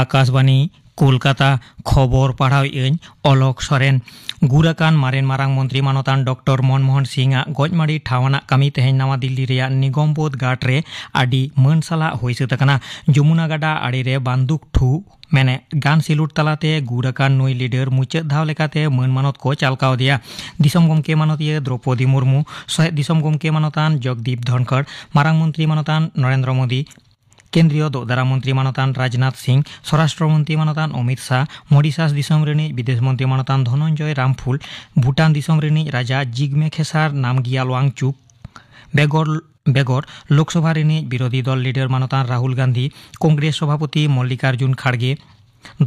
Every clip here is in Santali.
ᱟᱠᱟᱥᱵᱟᱱᱤ ᱠᱳᱞᱠᱟᱛᱟ ᱠᱷᱚᱵᱚᱨ ᱯᱟᱲᱦᱟᱣ ᱟᱹᱧ ᱚᱞᱚᱠ ᱥᱚᱨᱮᱱ ᱜᱩᱨ ᱟᱠᱟᱱ ᱢᱟᱨᱮᱱ ᱢᱟᱨᱟᱝ ᱢᱚᱱᱛᱨᱤ ᱢᱟᱱᱚᱛᱟᱱ ᱰᱚᱠᱴᱚᱨ ᱢᱚᱱᱢᱳᱦᱚᱱ ᱥᱤᱝ ᱟᱜ ᱜᱚᱡᱢᱟᱲᱤ ᱴᱷᱟᱶ ᱟᱱᱟᱜ ᱠᱟᱹᱢᱤ ᱛᱮᱦᱮᱧ ᱱᱟᱣᱟ ᱫᱤᱞᱞᱤ ᱨᱮᱭᱟᱜ ᱱᱤᱜᱚᱢ ᱵᱳᱫᱷ ᱜᱟᱴ ᱨᱮ ᱟᱹᱰᱤ ᱢᱟᱹᱱ ᱥᱟᱞᱟᱜ ᱦᱩᱭ ᱥᱟᱹᱛ ᱟᱠᱟᱱᱟ ᱡᱚᱢᱩᱱᱟ ᱜᱟᱰᱟ ᱟᱲᱮ ᱨᱮ ᱵᱟᱱᱫᱩᱠ ᱴᱷᱩ ᱢᱮᱱᱮ ᱜᱟᱱ ᱥᱤᱞᱩᱴ ᱛᱟᱞᱟᱛᱮ ᱜᱩᱨ ᱟᱠᱟᱱ ᱱᱩᱭ ᱞᱤᱰᱟᱨ ᱢᱩᱪᱟᱹᱫ ᱫᱷᱟᱣ ᱞᱮᱠᱟᱛᱮ ᱢᱟᱹᱱ ᱢᱟᱱᱚᱛ ᱠᱚ ᱪᱟᱞ ᱠᱟᱣᱫᱮᱭᱟ ᱫᱤᱥᱚᱢ ᱜᱚᱢᱠᱮ ᱢᱟᱱᱚᱛᱤᱭᱟᱹ ᱫᱨᱚᱯᱚᱫᱤ ᱢᱩᱨᱢᱩ ᱥᱚᱦᱮᱫ ᱫᱤᱥᱚᱢ ᱜᱚᱢᱠᱮ ᱢᱟᱱᱚᱛᱟᱱ ᱡᱚᱜᱽᱫᱤᱯ ᱫᱷᱚᱱᱠᱚᱲ ᱢᱟᱨᱟᱝ ᱢᱚᱱᱛᱨᱤ ᱢᱟᱱᱚᱛᱟᱱ ᱱᱚᱨᱮᱱᱫᱨᱚ ᱢᱳᱫᱤ ᱠᱮᱱᱫᱨᱤᱭᱚ ᱫᱚᱜ ᱫᱟᱨᱟ ᱢᱚᱱᱛᱨᱤ ᱢᱟᱱᱚᱛᱟᱱ ᱨᱟᱡᱽᱱᱟᱛᱷ ᱥᱤᱝ ᱥᱚᱨᱟᱥᱴᱨᱚ ᱢᱚᱱᱛᱨᱤ ᱢᱟᱱᱚᱛᱟᱱ ᱚᱢᱤᱛ ᱥᱟᱦ ᱢᱚᱰᱤᱥᱟᱥ ᱫᱤᱥᱚᱢ ᱨᱤᱱᱤᱡ ᱵᱤᱫᱮᱥ ᱢᱚᱱᱛᱨᱤ ᱢᱟᱱᱚᱛᱟᱱ ᱫᱷᱚᱱᱚᱱᱡᱚᱭ ᱨᱟᱢᱯᱷᱩᱞ ᱵᱷᱩᱴᱟᱱ ᱫᱤᱥᱚᱢ ᱨᱤᱱᱤᱡ ᱨᱟᱡᱟ ᱡᱤᱜᱢᱮ ᱠᱷᱮᱥᱟᱨ ᱱᱟᱢᱜᱤᱭᱟᱞ ᱣᱟᱝᱪᱩᱠ ᱵᱮᱜᱚᱨ ᱵᱮᱜᱚᱨ ᱞᱳᱠᱥᱚᱵᱷᱟ ᱨᱤᱱᱤᱡ ᱵᱤᱨᱳᱫᱷᱤ ᱫᱚᱞ ᱞᱤᱰᱟᱨ ᱢᱟᱱᱚᱛᱟᱱ ᱨᱟᱦᱩᱞ ᱜᱟᱱᱫᱷᱤ ᱠᱚᱝᱜᱨᱮᱥ ᱥᱚᱵᱷᱟᱯᱚᱛᱤ ᱢᱚᱞᱞᱤᱠᱟᱨᱡᱩᱱ ᱠᱷᱟᱲᱜᱮ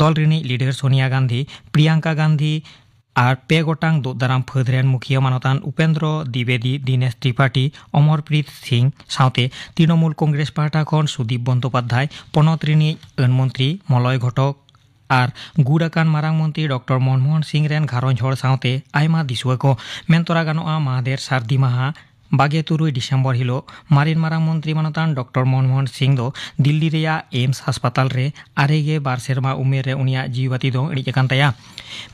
ᱫᱚᱞ ᱨᱤᱱᱤᱡ ᱞᱤᱰᱟᱨ ᱥᱳᱱᱤᱭᱟ ᱜᱟᱱᱫᱷᱤ ᱯᱨᱤᱭᱟᱝᱠᱟ ᱜᱟᱱᱫᱷᱤ ᱟᱨ ᱯᱮ ᱜᱚᱴᱟᱝ ᱫᱩᱜ ᱫᱟᱨᱟᱢ ᱯᱷᱟᱹᱫᱽ ᱨᱮᱱ ᱢᱩᱠᱷᱤᱭᱟᱹ ᱢᱟᱱᱚᱛᱟᱱ ᱩᱯᱮᱱᱫᱨᱚ ᱫᱤᱵᱮᱫᱤ ᱫᱤᱱᱮᱥ ᱛᱨᱤᱯᱟᱴᱤ ᱚᱢᱚᱨᱯᱨᱤᱛ ᱥᱤᱝ ᱥᱟᱶᱛᱮ ᱛᱨᱤᱱᱚᱢᱩᱞ ᱠᱚᱝᱜᱨᱮᱥ ᱯᱟᱦᱴᱟ ᱠᱷᱚᱱ ᱥᱩᱫᱤᱯ ᱵᱚᱱᱫᱚᱯᱟᱫᱷᱭᱟᱭ ᱯᱚᱱᱚᱛ ᱨᱤᱱᱤᱡ ᱟᱹᱱ ᱢᱚᱱᱛᱨᱤ ᱢᱚᱞᱚᱭ ᱜᱷᱚᱴᱚᱠ ᱟᱨ ᱜᱩᱨ ᱟᱠᱟᱱ ᱢᱟᱨᱟᱝ ᱢᱚᱱᱛᱨᱤ ᱰᱚᱠᱴᱚᱨ ᱢᱚᱱᱢᱚᱦᱚᱱ ᱥᱤᱝ ᱨᱮᱱ ᱜᱷᱟᱨᱚᱸᱡᱽ ᱦᱚᱲ ᱥᱟᱶᱛᱮ ᱟᱭᱢᱟ ᱫᱤᱥᱩᱣᱟᱹ ᱠᱚ᱾ ᱢᱮᱱ ᱛᱚᱨᱟ ᱜᱟᱱᱚᱜᱼᱟ ᱢᱟᱦᱫᱮᱨ ᱥᱟᱹᱨᱫᱤ ᱢᱟᱦᱟᱸ ᱵᱟᱜᱮ ᱛᱩᱨᱩᱭ ᱰᱤᱥᱮᱢᱵᱚᱨ ᱦᱤᱞᱳᱜ ᱢᱟᱨᱮᱱ ᱢᱟᱨᱟᱝ ᱢᱚᱱᱛᱨᱤ ᱢᱟᱱᱚᱛᱟᱱ ᱰᱚᱠᱴᱚᱨ ᱢᱚᱱᱢᱳᱦᱚᱱ ᱥᱤᱝ ᱫᱚ ᱫᱤᱞᱞᱤ ᱨᱮᱭᱟᱜ ᱮᱢᱥ ᱦᱟᱥᱯᱟᱛᱟᱞ ᱨᱮ ᱟᱨᱮ ᱜᱮ ᱵᱟᱨ ᱥᱮᱨᱢᱟ ᱩᱢᱮᱨ ᱨᱮ ᱩᱱᱤᱭᱟᱜ ᱡᱤᱣᱤ ᱵᱟᱹᱛᱤ ᱫᱚ ᱤᱬᱤᱡ ᱟᱠᱟᱱ ᱛᱟᱭᱟ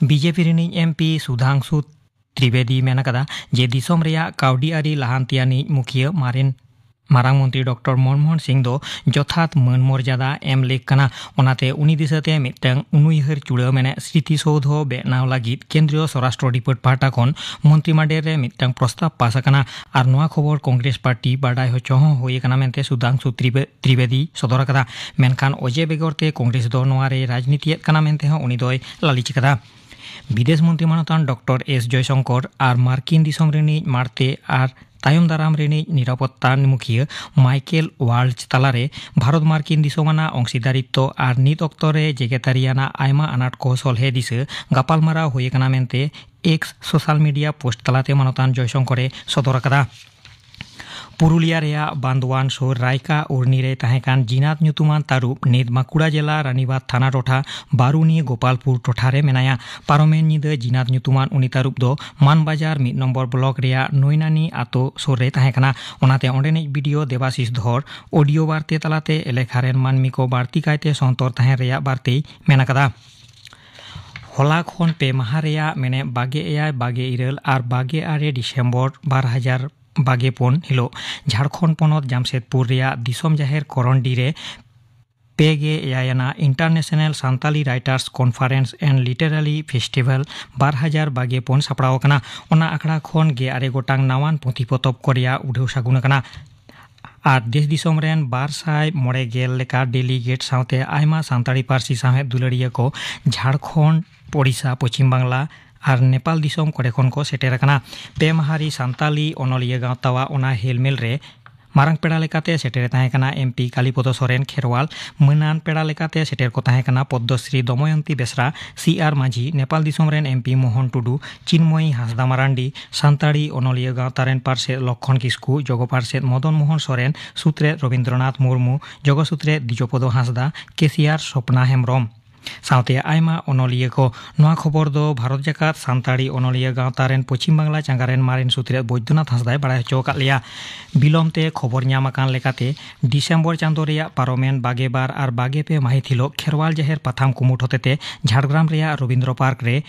ᱵᱤᱡᱮᱯᱤ ᱨᱤᱱᱤᱡ ᱮᱢ ᱯᱤ ᱥᱩᱫᱷᱟᱝᱥᱩ ᱛᱨᱤᱵᱮᱫᱤ ᱢᱮᱱ ᱟᱠᱟᱫᱟ ᱡᱮ ᱫᱤᱥᱚᱢ ᱨᱮᱭᱟᱜ ᱠᱟᱹᱣᱰᱤ ᱟᱹᱨᱤ ᱞᱟᱦᱟᱱᱛᱤᱭᱟᱱᱤᱡ ᱢᱩᱠᱷᱤᱭᱟᱹ ᱢᱟᱨᱮᱱ ᱢᱟᱨᱟᱝ ᱢᱚᱱᱛᱨᱤ ᱰᱚᱠᱴᱚᱨ ᱢᱚᱱᱢᱳᱦᱚᱱ ᱥᱤᱝ ᱫᱚ ᱡᱚᱛᱷᱟᱛ ᱢᱟᱹᱱ ᱢᱚᱨᱡᱟᱫᱟ ᱮᱢ ᱞᱮᱠ ᱠᱟᱱᱟ ᱚᱱᱟᱛᱮ ᱩᱱᱤ ᱫᱤᱥᱟᱹᱛᱮ ᱢᱤᱫᱴᱟᱝ ᱩᱱᱩᱭᱦᱟᱹᱨ ᱪᱩᱲᱟᱹ ᱢᱮᱱᱮᱫ ᱥᱨᱤᱛᱤ ᱥᱳᱫᱷᱚ ᱵᱮᱱᱟᱣ ᱞᱟᱹᱜᱤᱫ ᱠᱮᱱᱫᱨᱤᱭᱚ ᱥᱚᱨᱟᱥᱴᱨᱚ ᱰᱤᱯᱟᱨᱴ ᱯᱟᱦᱴᱟ ᱠᱷᱚᱱ ᱢᱚᱱᱛᱨᱤ ᱢᱟᱰᱮᱨ ᱨᱮ ᱢᱤᱫᱴᱟᱝ ᱯᱨᱚᱥᱛᱟᱵ ᱯᱟᱥ ᱟᱠᱟᱱᱟ ᱟᱨ ᱱᱚᱣᱟ ᱠᱷᱚᱵᱚᱨ ᱠᱚᱝᱜᱨᱮᱥ ᱯᱟᱨᱴᱤ ᱵᱟᱰᱟᱭ ᱦᱚᱪᱚ ᱦᱚᱸ ᱦᱩᱭ ᱟᱠᱟᱱᱟ ᱢᱮᱱᱛᱮ ᱥᱩᱫᱷᱟᱝᱥᱩ ᱛᱨᱤᱵᱮᱫᱤ ᱥᱚᱫᱚᱨ ᱟᱠᱟᱫᱟ ᱢᱮᱱᱠᱷᱟᱱ ᱚᱡᱮ ᱵᱮᱜᱚᱨ ᱛᱮ ᱠᱚᱝᱜᱨᱮᱥ ᱫᱚ ᱱᱚᱣᱟ ᱨᱮ ᱨᱟᱡᱽᱱᱤᱛᱤᱭᱮᱫ ᱠᱟᱱᱟ ᱢᱮᱱᱛᱮ ᱦᱚᱸ ᱩᱱᱤ ᱫᱚᱭ ᱞᱟᱹᱞᱤᱪ ᱟᱠᱟᱫᱟ ᱵᱤᱫᱮᱥ ᱢᱚᱱᱛᱨᱤ ᱢᱟᱱᱚᱛᱟᱱ ᱰᱚᱠᱴᱚᱨ ᱮᱥ ᱡᱚᱭᱥᱚᱝᱠᱚᱨ ᱟᱨ ᱢᱟᱨᱠᱤᱱ ᱫᱤᱥᱚᱢ ᱨᱤᱱᱤᱡ ᱢᱟᱲᱛᱮ ᱟᱨ ᱛᱟᱭᱚᱢ ᱫᱟᱨᱟᱢ ᱨᱤᱱᱤᱡ ᱱᱤᱨᱟᱯᱚᱛᱛᱟ ᱢᱩᱠᱷᱤᱭᱟᱹ ᱢᱟᱭᱠᱮᱞ ᱣᱟᱞᱡ ᱛᱟᱞᱟᱨᱮ ᱵᱷᱟᱨᱚᱛ ᱢᱟᱨᱠᱤᱱ ᱫᱤᱥᱚᱢ ᱟᱱᱟᱜ ᱚᱝᱥᱤᱫᱟᱨᱤᱛᱛᱚ ᱟᱨ ᱱᱤᱛ ᱚᱠᱛᱚ ᱨᱮ ᱡᱮᱜᱮᱛᱟᱹᱨᱤ ᱟᱱᱟᱜ ᱟᱭᱢᱟ ᱟᱱᱟᱴ ᱠᱚ ᱥᱚᱞᱦᱮ ᱫᱤᱥᱟᱹ ᱜᱟᱯᱟᱞᱢᱟᱨᱟᱣ ᱦᱩᱭ ᱟᱠᱟᱱᱟ ᱢᱮᱱᱛᱮ ᱮᱠᱥ ᱥᱳᱥᱟᱞ ᱢᱤᱰᱤᱭᱟ ᱯᱳᱥᱴ ᱛᱟᱞᱟᱛᱮ ᱢᱟᱱᱚᱛᱟᱱ ᱡᱚᱭᱥᱚᱝᱠᱚᱨ ᱮ ᱥᱚᱫᱚᱨ ᱟᱠᱟᱫᱟ ᱯᱩᱨᱩᱞᱤᱭᱟ ᱨᱮᱭᱟᱜ ᱵᱟᱱᱫᱣᱟᱱ ᱥᱩᱨ ᱨᱟᱭᱠᱟ ᱩᱨᱱᱤ ᱨᱮ ᱛᱟᱦᱮᱸ ᱠᱟᱱ ᱡᱤᱱᱟᱛ ᱧᱩᱛᱩᱢᱟᱱ ᱛᱟᱹᱨᱩᱵ ᱱᱤᱛ ᱵᱟᱸᱠᱩᱲᱟ ᱡᱮᱞᱟ ᱨᱟᱱᱤᱵᱟᱫᱽ ᱛᱷᱟᱱᱟ ᱴᱚᱴᱷᱟ ᱵᱟᱨᱩᱱᱤ ᱜᱳᱯᱟᱞᱯᱩᱨ ᱴᱚᱴᱷᱟ ᱨᱮ ᱢᱮᱱᱟᱭᱟ ᱯᱟᱨᱚᱢᱮᱱ ᱧᱤᱫᱟᱹ ᱡᱤᱱᱟᱛ ᱧᱩᱛᱩᱢᱟᱱ ᱩᱱᱤ ᱛᱟᱹᱨᱩᱵ ᱫᱚ ᱢᱟᱱᱵᱟᱡᱟᱨ ᱢᱤᱫ ᱱᱚᱢᱵᱚᱨ ᱵᱞᱚᱠ ᱨᱮᱭᱟᱜ ᱱᱚᱭᱱᱟᱱᱤ ᱟᱛᱳ ᱥᱩᱨ ᱨᱮ ᱛᱟᱦᱮᱸ ᱠᱟᱱᱟ ᱚᱱᱟᱛᱮ ᱚᱸᱰᱮᱱᱤᱡ ᱵᱤᱰᱤᱳ ᱫᱮᱵᱟᱥᱤᱥ ᱫᱷᱚᱨ ᱚᱰᱤᱭᱳ ᱵᱟᱨᱛᱮ ᱛᱟᱞᱟᱛᱮ ᱮᱞᱮᱠᱷᱟ ᱨᱮᱱ ᱢᱟᱹᱱᱢᱤ ᱠᱚ ᱵᱟᱹᱲᱛᱤ ᱠᱟᱭᱛᱮ ᱥᱚᱱᱛᱚᱨ ᱛᱟᱦᱮᱸᱱ ᱨᱮᱭᱟᱜ ᱵᱟᱨᱛᱮᱭ ᱢᱮᱱ ᱟᱠᱟᱫᱟ ᱦᱚᱞᱟ ᱠᱷᱚᱱ ᱯᱮ ᱢᱟᱦᱟ ᱨᱮᱭᱟᱜ ᱢᱮᱱᱮᱫ ᱵᱟᱜᱮ ᱮᱭᱟᱭ ᱵᱟᱜᱮ ᱤᱨᱟᱹᱞ ᱟᱨ ᱵᱟᱜᱮ ᱟᱨᱮ ᱰᱤᱥᱮᱢᱵᱚᱨ ᱵᱟᱨ ᱦᱟᱡᱟᱨ ᱵᱟᱜᱮ ᱯᱩᱱ ᱦᱤᱞᱳᱜ ᱡᱷᱟᱲᱠᱷᱚᱸᱰ ᱯᱚᱱᱚᱛ ᱡᱟᱢᱥᱮᱫᱽᱯᱩᱨ ᱨᱮᱭᱟᱜ ᱫᱤᱥᱚᱢ ᱡᱟᱦᱮᱨ ᱠᱚᱨᱚᱱᱰᱤ ᱨᱮ ᱯᱮ ᱜᱮ ᱮᱭᱟᱭ ᱟᱱᱟᱜ international Santali writers conference and literary festival ᱵᱟᱨ ᱦᱟᱡᱟᱨ ᱵᱟᱜᱮ ᱯᱩᱱ ᱥᱟᱯᱲᱟᱣ ᱟᱠᱟᱱᱟ ᱚᱱᱟ ᱟᱠᱷᱲᱟ ᱠᱷᱚᱱ ᱜᱮ ᱟᱨᱮ ᱜᱚᱴᱟᱝ ᱱᱟᱣᱟᱱ ᱯᱩᱛᱷᱤ ᱯᱚᱛᱚᱵ ᱠᱚ ᱨᱮᱭᱟᱜ ᱩᱰᱷᱟᱹᱣ ᱥᱟᱹᱜᱩᱱ ᱟᱠᱟᱱᱟ ᱟᱨ ᱫᱮᱥ ᱫᱤᱥᱚᱢ ᱨᱮᱱ ᱵᱟᱨ ᱥᱟᱭ ᱢᱚᱬᱮ ᱜᱮᱞ ᱞᱮᱠᱟ ᱰᱮᱞᱤᱜᱮᱴ ᱥᱟᱶᱛᱮ ᱟᱭᱢᱟ ᱥᱟᱱᱛᱟᱲᱤ ᱯᱟᱹᱨᱥᱤ ᱥᱟᱶᱦᱮᱫ ᱫᱩᱞᱟᱹᱲᱤᱭᱟᱹ ᱠᱚ ᱡᱷᱟᱲᱠᱷᱚᱸᱰ ᱳᱰᱤᱥᱟ ᱯᱚᱪᱷᱤᱢ ᱵᱟᱝᱞᱟ ᱟᱨ ᱱᱮᱯᱟᱞ ᱫᱤᱥᱚᱢ ᱠᱚᱨᱮ ᱠᱷᱚᱱ ᱠᱚ ᱥᱮᱴᱮᱨ ᱟᱠᱟᱱᱟ ᱯᱮ ᱢᱟᱦᱟᱨᱤ ᱥᱟᱱᱛᱟᱞᱤ ᱚᱱᱚᱞᱤᱭᱟᱹ ᱜᱟᱶᱛᱟᱣᱟᱜ ᱚᱱᱟ ᱦᱮᱞᱢᱮᱞ ᱨᱮ ᱢᱟᱨᱟᱝ ᱯᱮᱲᱟ ᱞᱮᱠᱟᱛᱮ ᱥᱮᱴᱮᱨᱮ ᱛᱟᱦᱮᱸ ᱠᱟᱱᱟ ᱮᱢ ᱯᱤ ᱠᱟᱞᱤᱯᱚᱫᱚ ᱥᱚᱨᱮᱱ ᱠᱷᱮᱨᱣᱟᱞ ᱢᱟᱹᱱᱟᱱ ᱯᱮᱲᱟ ᱞᱮᱠᱟᱛᱮ ᱥᱮᱴᱮᱨ ᱠᱚ ᱛᱟᱦᱮᱸ ᱠᱟᱱᱟ ᱯᱚᱫᱽᱫᱚᱥᱨᱤ ᱫᱚᱢᱚᱭᱚᱱᱛᱤ ᱵᱮᱥᱨᱟ ᱥᱤ ᱟᱨ ᱢᱟᱹᱡᱷᱤ ᱱᱮᱯᱟᱞ ᱫᱤᱥᱚᱢ ᱨᱮᱱ ᱮᱢ ᱯᱤ ᱢᱳᱦᱚᱱ ᱴᱩᱰᱩ ᱪᱤᱱᱢᱚᱭᱤ ᱦᱟᱸᱥᱫᱟ ᱢᱟᱨᱟᱱᱰᱤ ᱥᱟᱱᱛᱟᱲᱤ ᱚᱱᱚᱞᱤᱭᱟᱹ ᱜᱟᱶᱛᱟ ᱨᱮᱱ ᱯᱟᱨᱥᱮᱛ ᱞᱚᱠᱠᱷᱚᱱ ᱠᱤᱥᱠᱩ ᱡᱚᱜᱚ ᱯᱟᱨᱥᱮᱛ ᱢᱚᱫᱚᱱ ᱢᱚᱦᱚᱱ ᱥᱚᱨᱮᱱ ᱥᱩᱛᱨᱮᱛ ᱨᱚᱵᱤᱱᱫᱨᱚᱱᱟᱛᱷ ᱢᱩᱨᱢᱩ ᱡᱚᱜᱚ ᱥᱩᱛᱨᱮᱛ ᱫᱤᱡᱚᱯᱚᱫᱚ ᱦᱟᱸᱥᱫᱟ ᱠᱮᱥᱤᱭᱟᱨ ᱥᱚᱯᱱᱟ ᱦᱮᱢᱵᱽᱨᱚᱢ ᱥᱟᱶᱛᱮ ᱟᱭᱢᱟ ᱚᱱᱚᱞᱤᱭᱟᱹ ᱠᱚ ᱱᱚᱶᱟ ᱠᱷᱚᱵᱚᱨ ᱫᱚ ᱵᱷᱟᱨᱚᱛ ᱡᱟᱠᱟᱛ ᱥᱟᱱᱛᱟᱲᱤ ᱚᱱᱚᱞᱤᱭᱟᱹ ᱜᱟᱶᱛᱟ ᱨᱮᱱ ᱯᱚᱪᱷᱤᱢ ᱵᱟᱝᱞᱟ ᱪᱟᱸᱜᱟ ᱨᱮᱱ ᱢᱟᱨᱮᱱ ᱥᱩᱛᱨᱮᱛ ᱵᱚᱭᱫᱚᱱᱟᱛᱷ ᱦᱟᱸᱥᱫᱟᱭ ᱵᱟᱲᱟᱭ ᱦᱚᱪᱚ ᱟᱠᱟᱫ ᱞᱮᱭᱟ ᱵᱤᱞᱚᱢ ᱛᱮ ᱠᱷᱚᱵᱚᱨ ᱧᱟᱢ ᱟᱠᱟᱱ ᱞᱮᱠᱟᱛᱮ ᱰᱤᱥᱮᱢᱵᱚᱨ ᱪᱟᱸᱫᱚ ᱨᱮᱭᱟᱜ ᱯᱟᱨᱚᱢᱮᱱ ᱵᱟᱜᱮ ᱵᱟᱨ ᱟᱨ ᱵᱟᱜᱮ ᱯᱮ ᱢᱟᱹᱦᱤᱛ ᱦᱤᱞᱚᱜ ᱠᱷᱮᱨᱣᱟᱞ ᱡᱟᱦᱮᱨ ᱯᱟᱛᱷᱟᱢ ᱠᱩᱢᱩᱴ ᱦᱚᱛᱮᱛᱮ ᱡᱷᱟᱲᱜᱨᱟᱢ ᱨᱮᱭᱟᱜ ᱨᱚᱵᱤᱱᱫᱽᱨᱚ ᱯᱟᱨᱠ ᱨᱮ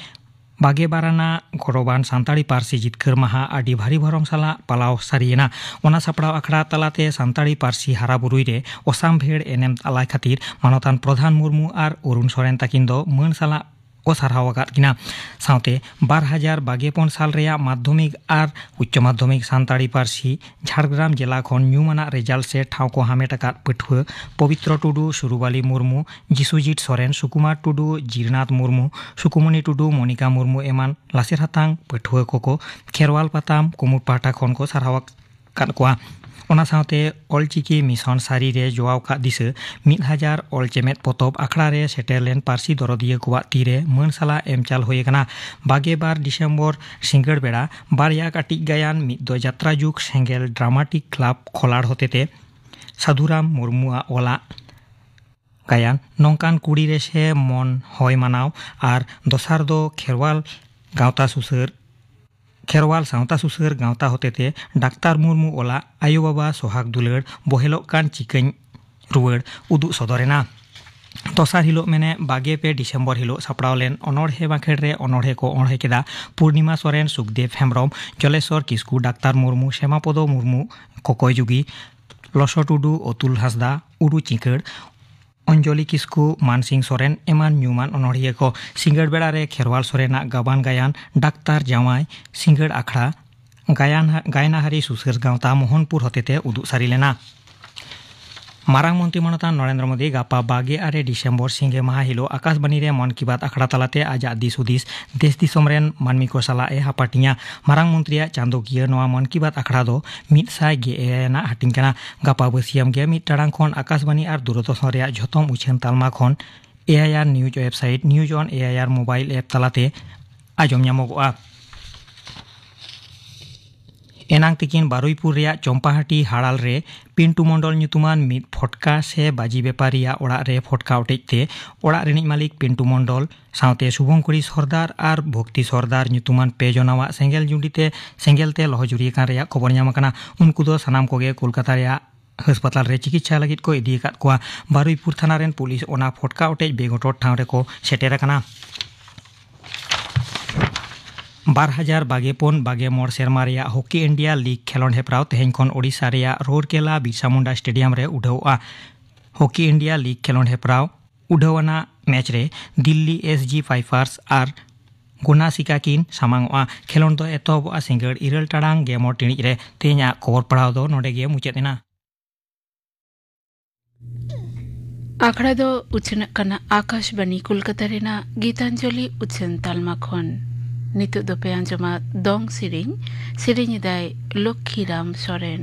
ᱵᱟᱜᱮ ᱵᱟᱨ ᱟᱱᱟᱜ ᱜᱚᱨᱚᱵᱟᱱ ᱥᱟᱱᱛᱟᱲᱤ ᱯᱟᱹᱨᱥᱤ ᱡᱤᱛᱠᱟᱹᱨ ᱢᱟᱦᱟ ᱟᱹᱰᱤ ᱵᱷᱟᱹᱨᱤ ᱵᱷᱚᱨᱚᱢ ᱥᱟᱞᱟᱜ ᱯᱟᱞᱟᱣ ᱥᱟᱹᱨᱤᱭᱮᱱᱟ ᱚᱱᱟ ᱥᱟᱯᱲᱟᱣ ᱟᱠᱷᱲᱟ ᱛᱟᱞᱟᱛᱮ ᱥᱟᱱᱛᱟᱲᱤ ᱯᱟᱹᱨᱥᱤ ᱦᱟᱨᱟᱵᱩᱨᱩᱭ ᱨᱮ ᱚᱥᱟᱢᱵᱷᱮᱲ ᱮᱱᱮᱢ ᱟᱞᱟᱭ ᱠᱷᱟᱹᱛᱤᱨ ᱢᱟᱱᱚᱛᱟᱱ ᱯᱨᱚᱫᱷᱟᱱ ᱢᱩᱨᱢᱩ ᱟᱨ ᱚᱨᱩᱱ ᱥᱚᱨᱮᱱ ᱛᱟᱹᱠᱤᱱ ᱫᱚ ᱢᱟᱹᱱ ᱥᱟᱞᱟᱜ ᱠᱚ ᱥᱟᱨᱦᱟᱣ ᱟᱠᱟᱫ ᱠᱤᱱᱟ ᱥᱟᱶᱛᱮ ᱵᱟᱨ ᱦᱟᱡᱟᱨ ᱵᱟᱜᱮ ᱯᱩᱱ ᱥᱟᱞ ᱨᱮᱭᱟᱜ ᱢᱟᱫᱽᱫᱷᱚᱢᱤᱠ ᱟᱨ ᱩᱪᱪᱚ ᱢᱟᱫᱽᱫᱷᱚᱢᱤᱠ ᱥᱟᱱᱛᱟᱲᱤ ᱯᱟᱹᱨᱥᱤ ᱡᱷᱟᱲᱜᱨᱟᱢ ᱡᱮᱞᱟ ᱠᱷᱚᱱ ᱧᱩᱢ ᱟᱱᱟᱜ ᱨᱮᱡᱟᱞᱴ ᱥᱮ ᱴᱷᱟᱶ ᱠᱚ ᱦᱟᱢᱮᱴ ᱟᱠᱟᱫ ᱯᱟᱹᱴᱷᱩᱣᱟᱹ ᱯᱚᱵᱤᱛᱨᱚ ᱴᱩᱰᱩ, ᱥᱩᱨᱩᱵᱟᱞᱤ ᱢᱩᱨᱢᱩ, ᱡᱤᱥᱩᱡᱤᱴ ᱥᱚᱨᱮᱱ, ᱥᱩᱠᱩᱢᱟᱨ ᱴᱩᱰᱩ, ᱡᱤᱨᱱᱟᱛᱷ ᱢᱩᱨᱢᱩ, ᱥᱩᱠᱩᱢᱚᱱᱤ ᱴᱩᱰᱩ, ᱢᱚᱱᱤᱠᱟ ᱢᱩᱨᱢᱩ ᱮᱢᱟᱱ ᱞᱟᱥᱮᱨ ᱦᱟᱛᱟᱝ ᱯᱟᱹᱴᱷᱩᱣᱟᱹ ᱠᱚᱠᱚ ᱠᱷᱮᱨᱣᱟᱞ ᱯᱟᱛᱟᱢ ᱠᱩᱢᱩᱴ ᱯᱟᱦᱴᱟ ᱠᱷᱚᱱ ᱠᱚ ᱥᱟᱨᱦᱟᱣ ᱟᱠᱟᱫ ᱠᱚᱣᱟ᱾ ᱚᱱᱟ ᱥᱟᱶᱛᱮ ᱚᱞᱪᱤᱠᱤ ᱢᱤᱥᱚᱱ ᱥᱟᱹᱨᱤ ᱨᱮ ᱡᱚᱣᱟᱣ ᱠᱟᱜ ᱫᱤᱥᱟᱹ ᱢᱤᱫ ᱦᱟᱡᱟᱨ ᱚᱞ ᱪᱮᱢᱮᱫ ᱯᱚᱛᱚᱵ ᱟᱠᱷᱲᱟ ᱨᱮ ᱥᱮᱴᱮᱨ ᱞᱮᱱ ᱯᱟᱹᱨᱥᱤ ᱫᱚᱨᱚᱫᱤᱭᱟᱹ ᱠᱚᱣᱟᱜ ᱛᱤ ᱨᱮ ᱢᱟᱹᱱ ᱥᱟᱞᱟᱜ ᱮᱢ ᱪᱟᱞ ᱦᱩᱭ ᱟᱠᱟᱱᱟ᱾ ᱵᱟᱜᱮ ᱵᱟᱨ ᱰᱤᱥᱮᱢᱵᱚᱨ ᱥᱤᱸᱜᱟᱹᱲ ᱵᱮᱲᱟ ᱵᱟᱨᱭᱟ ᱠᱟᱹᱴᱤᱡ ᱜᱟᱭᱟᱱ ᱢᱤᱫ ᱫᱚ ᱡᱟᱛᱨᱟ ᱡᱩᱜᱽ ᱥᱮᱸᱜᱮᱞ ᱰᱨᱟᱢᱟᱴᱤᱠ ᱠᱞᱟᱵᱽ ᱠᱷᱚᱞᱟᱲ ᱦᱚᱛᱮᱛᱮ ᱥᱟᱫᱷᱩᱨᱟᱢ ᱢᱩᱨᱢᱩᱣᱟᱜ ᱚᱞᱟᱜ ᱜᱟᱭᱟᱱ ᱱᱚᱝᱠᱟᱱ ᱠᱩᱲᱤ ᱨᱮ ᱥᱮ ᱢᱚᱱ ᱦᱚᱭ ᱢᱟᱱᱟᱣ ᱟᱨ ᱫᱚᱥᱟᱨ ᱫᱚ ᱠᱷᱮᱨᱣᱟᱞ ᱜᱟᱶᱛᱟ ᱥᱩᱥᱟᱹᱨ ᱠᱷᱮᱨᱣᱟᱞ ᱥᱟᱶᱛᱟ ᱥᱩᱥᱟᱹᱨ ᱜᱟᱶᱛᱟ ᱦᱚᱛᱮᱛᱮ ᱰᱟᱠᱛᱟᱨ ᱢᱩᱨᱢᱩ ᱚᱞᱟᱜ ᱟᱭᱳ ᱵᱟᱵᱟ ᱥᱚᱦᱟᱜᱽ ᱫᱩᱞᱟᱹᱲ ᱵᱚᱦᱮᱞᱚᱜ ᱠᱟᱱ ᱪᱤᱠᱟᱹᱧ ᱨᱩᱣᱟᱹᱲ ᱩᱫᱩᱜ ᱥᱚᱫᱚᱨ ᱮᱱᱟ᱾ ᱫᱚᱥᱟᱨ ᱦᱤᱞᱚᱜ ᱢᱮᱱᱮ ᱵᱟᱜᱮ ᱯᱮ ᱰᱤᱥᱮᱢᱵᱚᱨ ᱦᱤᱞᱚᱜ ᱥᱟᱯᱲᱟᱣ ᱞᱮᱱ ᱚᱱᱚᱬᱦᱮ ᱵᱟᱸᱠᱷᱮᱲ ᱨᱮ ᱚᱱᱚᱬᱦᱮ ᱠᱚ ᱚᱬᱦᱮ ᱠᱮᱫᱼᱟ ᱯᱩᱨᱱᱤᱢᱟ ᱥᱚᱨᱮᱱ, ᱥᱩᱠᱫᱮᱵᱽ ᱦᱮᱢᱵᱽᱨᱚᱢ, ᱡᱚᱞᱮᱥᱚᱨ ᱠᱤᱥᱠᱩ, ᱰᱟᱠᱛᱟᱨ ᱢᱩᱨᱢᱩ, ᱥᱮᱢᱟᱯᱚᱫᱚ ᱢᱩᱨᱢᱩ, ᱠᱚᱠᱚᱭ ᱡᱩᱜᱤ, ᱞᱚᱥᱚ ᱴᱩᱰᱩ, ᱚᱛᱩᱞ ᱦᱟᱸᱥᱫᱟ, ᱩᱰᱩ ᱪᱤᱸᱠᱟᱹᱲ, ᱚᱧᱡᱚᱞᱤ ᱠᱤᱥᱠᱩ, ᱢᱟᱱᱥᱤᱝ ᱥᱚᱨᱮᱱ ᱮᱢᱟᱱ ᱧᱩᱢᱟᱱ ᱚᱱᱚᱬᱦᱤᱭᱟᱹ ᱠᱚ᱾ ᱥᱤᱸᱜᱟᱹᱲ ᱵᱮᱲᱟ ᱨᱮ ᱠᱷᱮᱨᱣᱟᱞ ᱥᱚᱨᱮᱱᱟᱜ ᱜᱟᱵᱟᱱ ᱜᱟᱭᱟᱱ ᱰᱟᱠᱛᱟᱨ ᱡᱟᱶᱟᱭ ᱥᱤᱸᱜᱟᱹᱲ ᱟᱠᱷᱲᱟ ᱜᱟᱭᱟᱱ ᱜᱟᱭᱱᱟᱦᱟᱨᱤ ᱥᱩᱥᱟᱹᱨ ᱜᱟᱶᱛᱟ ᱢᱳᱦᱚᱱᱯᱩᱨ ᱦᱚᱛᱮᱛᱮ ᱩᱫᱩᱜ ᱥᱟᱹᱨᱤ ᱞᱮᱱᱟ ᱢᱟᱨᱟᱝ ᱢᱚᱱᱛᱨᱤ ᱢᱟᱱᱚᱛᱟᱱ ᱱᱚᱨᱮᱱᱫᱨᱚ ᱢᱳᱫᱤ ᱜᱟᱯᱟ ᱵᱟᱜᱮ ᱟᱨᱮ ᱰᱤᱥᱮᱢᱵᱚᱨ ᱥᱤᱸᱜᱮ ᱢᱟᱦᱟ ᱦᱤᱞᱳᱜ ᱟᱠᱟᱥᱵᱟণᱤ ᱨᱮ ᱢᱚᱱ ᱠᱤ ᱵᱟᱛ ᱟᱠᱷᱲᱟ ᱛᱟᱞᱟᱛᱮ ᱟᱡᱟᱜ ᱫᱤᱥ ᱦᱩᱫᱤᱥ ᱫᱮᱥ ᱫᱤᱥᱚᱢ ᱨᱮᱱ ᱢᱟᱹᱱᱢᱤ ᱠᱚ ᱥᱟᱞᱟᱜ ᱮ ᱦᱟᱯᱟᱴᱤᱧᱟ ᱢᱟᱨᱟᱝ ᱢᱚᱱᱛᱨᱤᱭᱟᱜ ᱪᱟᱸᱫᱚᱠᱤᱭᱟᱹ ᱱᱚᱣᱟ ᱢᱚᱱ ᱠᱤ ᱵᱟᱛ ᱟᱠᱷᱲᱟ ᱫᱚ ᱢᱤᱫ ᱥᱟᱭ ᱜᱮ ᱮᱭᱟᱭ ᱟᱱᱟᱜ ᱦᱟᱹᱴᱤᱧ ᱠᱟᱱᱟ ᱜᱟᱯᱟ ᱵᱟᱹᱥᱤᱭᱟᱢ ᱜᱮ ᱢᱤᱫ ᱴᱟᱲᱟᱝ ᱠᱷᱚᱱ ᱟᱠᱟᱥᱵᱟণᱤ ᱟᱨ ᱫᱩᱨᱚᱫᱚᱨᱥᱚᱱ ᱨᱮᱭᱟᱜ ᱡᱷᱚᱛᱚᱢ ᱩᱪᱷᱟᱹᱱ ᱛᱟᱞᱢᱟ ᱠᱷᱚᱱ AIR news website news on AIR mobile app ᱛᱟᱞᱟᱛᱮ ᱟᱸᱡᱚᱢ ᱧᱟᱢᱚᱜᱚᱜᱼᱟ ᱮᱱᱟᱝ ᱛᱤᱠᱤᱱ ᱵᱟᱨᱩᱭᱯᱩᱨ ᱨᱮᱭᱟᱜ ᱪᱚᱢᱯᱟᱦᱟᱴᱤ ᱦᱟᱲᱟᱞ ᱨᱮ ᱯᱤᱱᱴᱩ ᱢᱚᱱᱰᱚᱞ ᱧᱩᱛᱩᱢᱟᱱ ᱢᱤᱫ ᱯᱷᱚᱴᱠᱟ ᱥᱮ ᱵᱟᱡᱤ ᱵᱮᱯᱟᱨᱤᱭᱟᱜ ᱚᱲᱟᱜ ᱨᱮ ᱯᱷᱚᱴᱠᱟ ᱚᱴᱮᱡ ᱛᱮ ᱚᱲᱟᱜ ᱨᱤᱱᱤᱡ ᱢᱟᱹᱞᱤᱠ ᱯᱤᱱᱴᱩ ᱢᱚᱱᱰᱚᱞ ᱥᱟᱶᱛᱮ ᱥᱩᱵᱷᱚᱝᱠᱩᱨᱤ ᱥᱚᱨᱫᱟᱨ ᱟᱨ ᱵᱷᱚᱠᱛᱤ ᱥᱚᱨᱫᱟᱨ ᱧᱩᱛᱩᱢᱟᱱ ᱯᱮ ᱡᱚᱱᱟᱣᱟᱜ ᱥᱮᱸᱜᱮᱞ ᱡᱩᱸᱰᱤ ᱛᱮ ᱥᱮᱸᱜᱮᱞ ᱛᱮ ᱞᱚᱦᱚᱡᱩᱨᱤ ᱟᱠᱟᱱ ᱨᱮᱭᱟᱜ ᱠᱷᱚᱵᱚᱨ ᱧᱟᱢ ᱟᱠᱟᱱᱟ ᱩᱱᱠᱩ ᱫᱚ ᱥᱟᱱᱟᱢ ᱠᱚᱜᱮ ᱠᱳᱞᱠᱟᱛᱟ ᱨᱮᱭᱟᱜ ᱦᱟᱥᱯᱟᱛᱟᱞ ᱨᱮ ᱪᱤᱠᱤᱛᱥᱟ ᱞᱟᱹᱜᱤᱫ ᱠᱚ ᱤᱫᱤ ᱟᱠᱟᱫ ᱠᱚᱣᱟ ᱵᱟᱨᱩᱭᱯᱩᱨ ᱛᱷᱟᱱᱟ ᱨᱮᱱ ᱯᱩᱞᱤᱥ ᱚᱱᱟ ᱯᱷᱚᱴᱠᱟ ᱚᱴᱮᱡ ᱵᱮᱜᱚᱴᱚᱨ ᱴᱷᱟᱶ ᱨᱮᱠᱚ ᱥᱮᱴᱮᱨ ᱟᱠᱟᱱᱟ ᱵᱟᱨ ᱦᱟᱡᱟᱨ ᱵᱟᱜᱮ ᱯᱩᱱ ᱵᱟᱜᱮ ᱢᱚᱬ ᱥᱮᱨᱢᱟ ᱨᱮᱭᱟᱜ ᱦᱚᱠᱤ ᱤᱱᱰᱤᱭᱟ ᱞᱤᱜᱽ ᱠᱷᱮᱞᱚᱸᱰ ᱦᱮᱯᱨᱟᱣ ᱛᱮᱦᱮᱧ ᱠᱷᱚᱱ ᱳᱰᱤᱥᱟ ᱨᱮᱭᱟᱜ ᱨᱳᱨᱠᱮᱞᱟ ᱵᱤᱨᱥᱟ ᱢᱩᱱᱰᱟ ᱥᱴᱮᱰᱤᱭᱟᱢ ᱨᱮ ᱩᱰᱷᱟᱹᱣᱚᱜᱼᱟ ᱦᱚᱠᱤ ᱤᱱᱰᱤᱭᱟ ᱞᱤᱜᱽ ᱠᱷᱮᱞᱚᱸᱰ ᱦᱮᱯᱨᱟᱣ ᱩᱰᱷᱟᱹᱣ ᱟᱱᱟᱜ ᱢᱮᱪ ᱨᱮ ᱫᱤᱞᱞᱤ ᱮᱥ ᱡᱤ ᱯᱷᱟᱭᱯᱷᱟᱨᱥ ᱟᱨ ᱜᱩᱱᱟ ᱥᱤᱠᱟ ᱠᱤᱱ ᱥᱟᱢᱟᱝᱚᱜᱼᱟ ᱠᱷᱮᱞᱳᱰ ᱫᱚ ᱮᱛᱚᱦᱚᱵᱚᱜᱼᱟ ᱥᱤᱸᱜᱟᱹᱲ ᱤᱨᱟᱹᱞ ᱴᱟᱲᱟᱝ ᱜᱮ ᱢᱚᱬ ᱴᱤᱬᱤᱡ ᱨᱮ ᱛᱮᱦᱮᱧᱟᱜ ᱠᱷᱚᱵᱚᱨ ᱯᱟᱲᱦᱟᱣ ᱫᱚ ᱱᱚᱰᱮ ᱜᱮ ᱢᱩᱪᱟᱹᱫ ᱮᱱᱟ ᱟᱠᱷᱲᱟ ᱫᱚ ᱩᱪᱷᱟᱹᱱᱚᱜ ᱠᱟᱱᱟ ᱟᱠᱟᱥᱵᱟণᱤ ᱠᱳᱞᱠᱟᱛᱟ ᱨᱮᱱᱟᱜ ᱜᱤᱛᱟᱧᱡᱚᱞᱤ ᱩᱪᱷᱟᱹᱱ ᱛᱟᱞᱢᱟ ᱠᱷᱚᱱ ᱱᱤᱛᱚᱜ ᱫᱚᱯᱮ ᱟᱸᱡᱚᱢᱟ ᱫᱚᱝ ᱥᱮᱨᱮᱧ ᱥᱮᱨᱮᱧ ᱮᱫᱟᱭ ᱞᱚᱠᱠᱷᱤᱨᱟᱢ ᱥᱚᱨᱮᱱ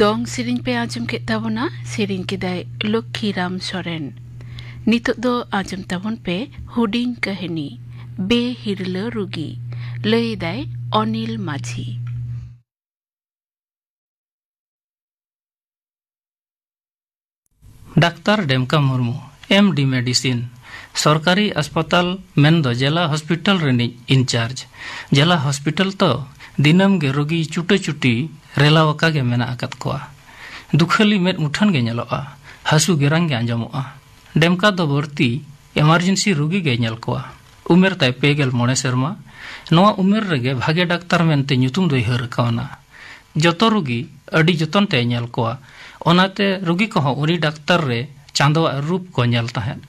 ᱫᱚᱝ ᱥᱮᱨᱮᱧ ᱯᱮ ᱟᱸᱡᱚᱢ ᱠᱮᱫ ᱛᱟᱵᱚᱱᱟ ᱥᱮᱨᱮᱧ ᱠᱮᱫᱟᱭ ᱞᱚᱠᱠᱷᱤ ᱨᱟᱢ ᱥᱚᱨᱮᱱ ᱱᱤᱛᱚᱜ ᱫᱚ ᱟᱸᱡᱚᱢ ᱛᱟᱵᱚᱱ ᱯᱮ ᱦᱩᱰᱤᱧ ᱠᱟᱹᱦᱱᱤ ᱵᱮ ᱦᱤᱨᱞᱟᱹ ᱨᱩᱜᱤ ᱞᱟᱹᱭ ᱮᱫᱟᱭ Anil Majhi doctor Demka Murmu M D medicine ᱥᱚᱨᱠᱟᱨᱤ ᱦᱟᱥᱯᱟᱛᱟᱞ ᱢᱮᱱᱫᱚ ᱡᱮᱞᱟ ᱦᱚᱥᱯᱤᱴᱟᱞ ᱨᱤᱱᱤᱡ ᱤᱱᱪᱟᱨᱡᱽ ᱡᱮᱞᱟ ᱦᱚᱥᱯᱤᱴᱟᱞ ᱛᱚ ᱫᱤᱱᱟᱹᱢ ᱜᱮ ᱨᱳᱜᱤ ᱪᱩᱴᱟᱹ ᱪᱩᱴᱤ ᱨᱮᱞᱟᱣ ᱟᱠᱟ ᱜᱮ ᱢᱮᱱᱟᱜ ᱟᱠᱟᱫ ᱠᱚᱣᱟ ᱫᱩᱠᱷᱟᱹᱞᱤ ᱢᱮᱫ ᱢᱩᱴᱷᱟᱹᱱ ᱜᱮ ᱧᱮᱞᱚᱜᱼᱟ ᱦᱟᱹᱥᱩ ᱜᱮᱨᱟᱝ ᱜᱮ ᱟᱸᱡᱚᱢᱚᱜᱼᱟ ᱰᱮᱢᱠᱟ ᱫᱚ ᱵᱟᱹᱲᱛᱤ ᱮᱢᱟᱨᱡᱮᱱᱥᱤ ᱨᱩᱜᱤ ᱜᱮ ᱧᱮᱞ ᱠᱚᱣᱟ ᱩᱢᱮᱨ ᱛᱟᱭ ᱯᱮᱜᱮᱞ ᱢᱚᱬᱮ ᱥᱮᱨᱢᱟ ᱱᱚᱣᱟ ᱩᱢᱮᱨ ᱨᱮᱜᱮ ᱵᱷᱟᱜᱮ ᱰᱟᱠᱛᱟᱨ ᱢᱮᱱᱛᱮ ᱧᱩᱛᱩᱢ ᱫᱚᱭ ᱦᱟᱹᱨ ᱠᱟᱣᱱᱟ ᱡᱚᱛᱚ ᱨᱩᱜᱤ ᱟᱹᱰᱤ ᱡᱚᱛᱚᱱ ᱛᱮᱭ ᱧᱮᱞ ᱠᱚᱣᱟ ᱚᱱᱟᱛᱮ ᱨᱩᱜᱤ ᱠᱚᱦᱚᱸ ᱩᱱᱤ ᱰᱟᱠᱛᱟᱨ ᱨᱮ ᱪᱟᱸᱫᱚᱣᱟᱜ ᱨᱩᱯ ᱠᱚ ᱧᱮᱞ ᱛᱟᱦᱮᱸᱫ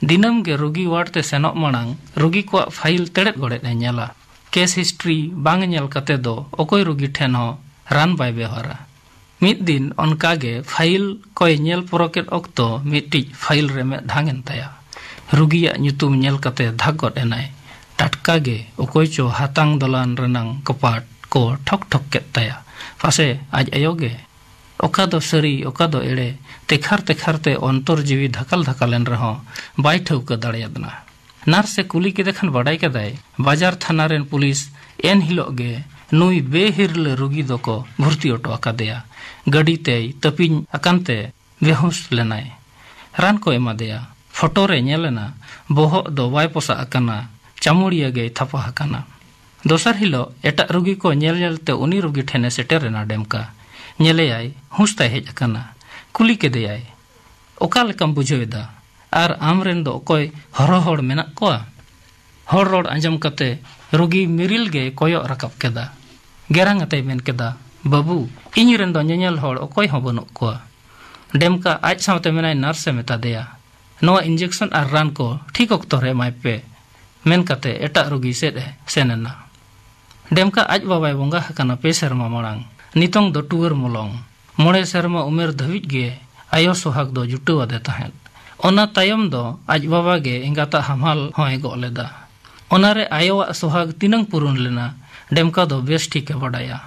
ᱫᱤᱱᱟᱹᱢ ᱜᱮ ᱨᱩᱜᱤ ᱣᱟᱨᱰ ᱛᱮ ᱥᱮᱱᱚᱜ ᱢᱟᱲᱟᱝ ᱨᱩᱜᱤ ᱠᱚᱣᱟᱜ ᱯᱷᱟᱭᱤᱞ ᱛᱮᱲᱮᱫ ᱜᱚᱲᱮᱫ ᱮ ᱧᱮᱞᱟ ᱠᱮᱥ ᱦᱤᱥᱴᱨᱤ ᱵᱟᱝ ᱧᱮᱞ ᱠᱟᱛᱮ ᱫᱚ ᱚᱠᱚᱭ ᱨᱩᱜᱤ ᱴᱷᱮᱱ ᱦᱚᱸ ᱨᱟᱱ ᱵᱟᱭ ᱵᱮᱣᱦᱟᱨᱟ ᱢᱤᱫ ᱫᱤᱱ ᱚᱱᱠᱟ ᱜᱮ ᱯᱷᱟᱭᱤᱞ ᱠᱚᱭ ᱧᱮᱞ ᱯᱚᱨᱚᱠᱮᱫ ᱚᱠᱛᱚ ᱢᱤᱫᱴᱤᱡ ᱯᱷᱟᱭᱤᱞ ᱨᱮ ᱢᱮᱫ ᱰᱷᱟᱝ ᱮᱱ ᱛᱟᱭᱟ᱾ ᱨᱩᱜᱤᱭᱟᱜ ᱧᱩᱛᱩᱢ ᱧᱮᱞ ᱠᱟᱛᱮ ᱫᱷᱟᱠ ᱜᱚᱫ ᱮᱱᱟᱭ᱾ ᱴᱟᱴᱠᱟ ᱜᱮ ᱚᱠᱚᱭ ᱪᱚ ᱦᱟᱛᱟᱝ ᱫᱚᱞᱟᱱ ᱨᱮᱱᱟᱝ ᱠᱚᱯᱟᱴ ᱠᱚ ᱴᱷᱚᱠ ᱴᱷᱚᱠ ᱠᱮᱫ ᱛᱟᱭᱟ᱾ ᱯᱟᱥᱮ ᱟᱡ ᱟᱭᱳ ᱜᱮ᱾ ᱚᱠᱟ ᱫᱚ ᱥᱟᱹᱨᱤ ᱚᱠᱟ ᱫᱚ ᱮᱲᱮ ᱛᱮᱠᱷᱟᱨ ᱛᱮᱠᱷᱟᱨ ᱛᱮ ᱚᱱᱛᱚᱨ ᱡᱤᱣᱤ ᱫᱷᱟᱠᱟᱞ ᱫᱷᱟᱠᱟᱞ ᱮᱱ ᱨᱮᱦᱚᱸ ᱵᱟᱭ ᱴᱷᱟᱹᱣᱠᱟᱹ ᱫᱟᱲᱮᱭᱟᱫᱱᱟ᱾ ᱱᱟᱨᱥ ᱮ ᱠᱩᱞᱤ ᱠᱮᱫᱮ ᱠᱷᱟᱱ ᱵᱟᱰᱟᱭ ᱠᱮᱫᱟᱭ ᱵᱟᱡᱟᱨ ᱛᱷᱟᱱᱟ ᱨᱮᱱ ᱯᱩᱞᱤᱥ ᱮᱱ ᱦᱤᱞᱚᱜ ᱜᱮ ᱱᱩᱭ ᱵᱮᱦᱤᱨᱞᱟᱹ ᱨᱩᱜᱤ ᱫᱚᱠᱚ ᱵᱷᱩᱨᱛᱤ ᱚᱴᱚ ᱟᱠᱟᱫᱮᱭᱟ ᱜᱟᱹᱰᱤ ᱛᱮᱭ ᱛᱟᱹᱯᱤᱧ ᱟᱠᱟᱱ ᱛᱮ ᱵᱮᱦᱩᱸᱥ ᱞᱮᱱᱟᱭ ᱨᱟᱱ ᱠᱚ ᱮᱢᱟᱫᱮᱭᱟ ᱯᱷᱚᱴᱚ ᱨᱮ ᱧᱮᱞ ᱮᱱᱟ ᱵᱚᱦᱚᱜ ᱫᱚ ᱵᱟᱭ ᱯᱚᱥᱟᱜ ᱟᱠᱟᱱᱟ ᱪᱟᱢᱩᱲᱤᱭᱟᱹ ᱜᱮᱭ ᱛᱷᱟᱯᱟ ᱟᱠᱟᱱᱟ ᱫᱚᱥᱟᱨ ᱦᱤᱞᱚᱜ ᱮᱴᱟᱜ ᱨᱩᱜᱤ ᱠᱚ ᱧᱮᱞ ᱧᱮᱞ ᱛᱮ ᱩᱱᱤ ᱨᱩᱜᱤ ᱴᱷᱮᱱ ᱮ ᱥᱮᱴᱮᱨ ᱮᱱᱟ ᱰᱮᱢᱠᱟ ᱧᱮᱞᱮᱭᱟᱭ ᱦᱩᱸᱥ ᱛᱟᱭ ᱦᱮᱡ ᱟᱠᱟᱱᱟ ᱠᱩᱞᱤ ᱠᱮᱫᱮᱭᱟᱭ ᱚᱠᱟ ᱞᱮᱠᱟᱢ ᱵᱩᱡᱷᱟᱹᱣ ᱮᱫᱟ ᱟᱨ ᱟᱢ ᱨᱮᱱ ᱫᱚ ᱚᱠᱚᱭ ᱦᱚᱨᱚ ᱦᱚᱲ ᱢᱮᱱᱟᱜ ᱠᱚᱣᱟ ᱦᱚᱲ ᱨᱚᱲ ᱟᱸᱡᱚᱢ ᱠᱟᱛᱮ ᱨᱩᱜᱤ ᱢᱤᱨᱤᱞ ᱜᱮ ᱠᱚᱭᱚᱜ ᱨᱟᱠᱟᱵ ᱠᱮᱫᱟ ᱜᱮᱨᱟᱝ ᱟᱛᱮᱭ ᱢᱮᱱ ᱠᱮᱫᱟ ᱵᱟᱹᱵᱩ ᱤᱧ ᱨᱮᱱ ᱫᱚ ᱧᱮᱧᱮᱞ ᱦᱚᱲ ᱚᱠᱚᱭ ᱦᱚᱸ ᱵᱟᱹᱱᱩᱜ ᱠᱚᱣᱟ ᱰᱮᱢᱠᱟ ᱟᱡ ᱥᱟᱶᱛᱮ ᱢᱮᱱᱟᱭ ᱱᱟᱨᱥᱮ ᱢᱮᱛᱟ ᱫᱮᱭᱟ ᱱᱚᱣᱟ ᱤᱧᱡᱮᱠᱥᱚᱱ ᱟᱨ ᱨᱟᱱ ᱠᱚ ᱴᱷᱤᱠ ᱚᱠᱛᱚ ᱨᱮ ᱮᱢᱟᱭ ᱯᱮ ᱢᱮᱱ ᱠᱟᱛᱮ ᱮᱴᱟᱜ ᱨᱩᱜᱤ ᱥᱮᱫ ᱮ ᱥᱮᱱ ᱮᱱᱟ ᱰᱮᱢᱠᱟ ᱟᱡ ᱵᱟᱵᱟᱭ ᱵᱚᱸᱜᱟ ᱟᱠᱟᱱᱟ ᱯᱮ ᱥᱮᱨᱢᱟ ᱢᱟᱲᱟᱝ ᱱᱤᱛᱚᱝ ᱫᱚ ᱴᱩᱣᱟᱹᱨ ᱢᱚᱞᱚᱝ ᱢᱚᱬᱮ ᱥᱮᱨᱢᱟ ᱩᱢᱮᱨ ᱫᱷᱟᱹᱵᱤᱡ ᱜᱮ ᱟᱭᱳ ᱥᱚᱦᱟᱜᱽ ᱫᱚ ᱡᱩᱴᱟᱹᱣ ᱟᱫᱮ ᱛᱟᱦᱮᱸᱫ᱾ ᱚᱱᱟ ᱛᱟᱭᱚᱢ ᱫᱚ ᱟᱡ ᱵᱟᱵᱟ ᱜᱮ ᱮᱸᱜᱟᱛᱟᱜ ᱦᱟᱢᱟᱞ ᱦᱚᱸᱭ ᱜᱚᱜ ᱞᱮᱫᱼᱟ᱾ ᱚᱱᱟ ᱨᱮ ᱟᱭᱳᱣᱟᱜ ᱥᱚᱦᱟᱜᱽ ᱛᱤᱱᱟᱹᱝ ᱯᱩᱨᱩᱱ ᱞᱮᱱᱟ ᱰᱮᱢᱠᱟ ᱫᱚ ᱵᱮᱥ ᱴᱷᱤᱠ ᱮ ᱵᱟᱰᱟᱭᱟ᱾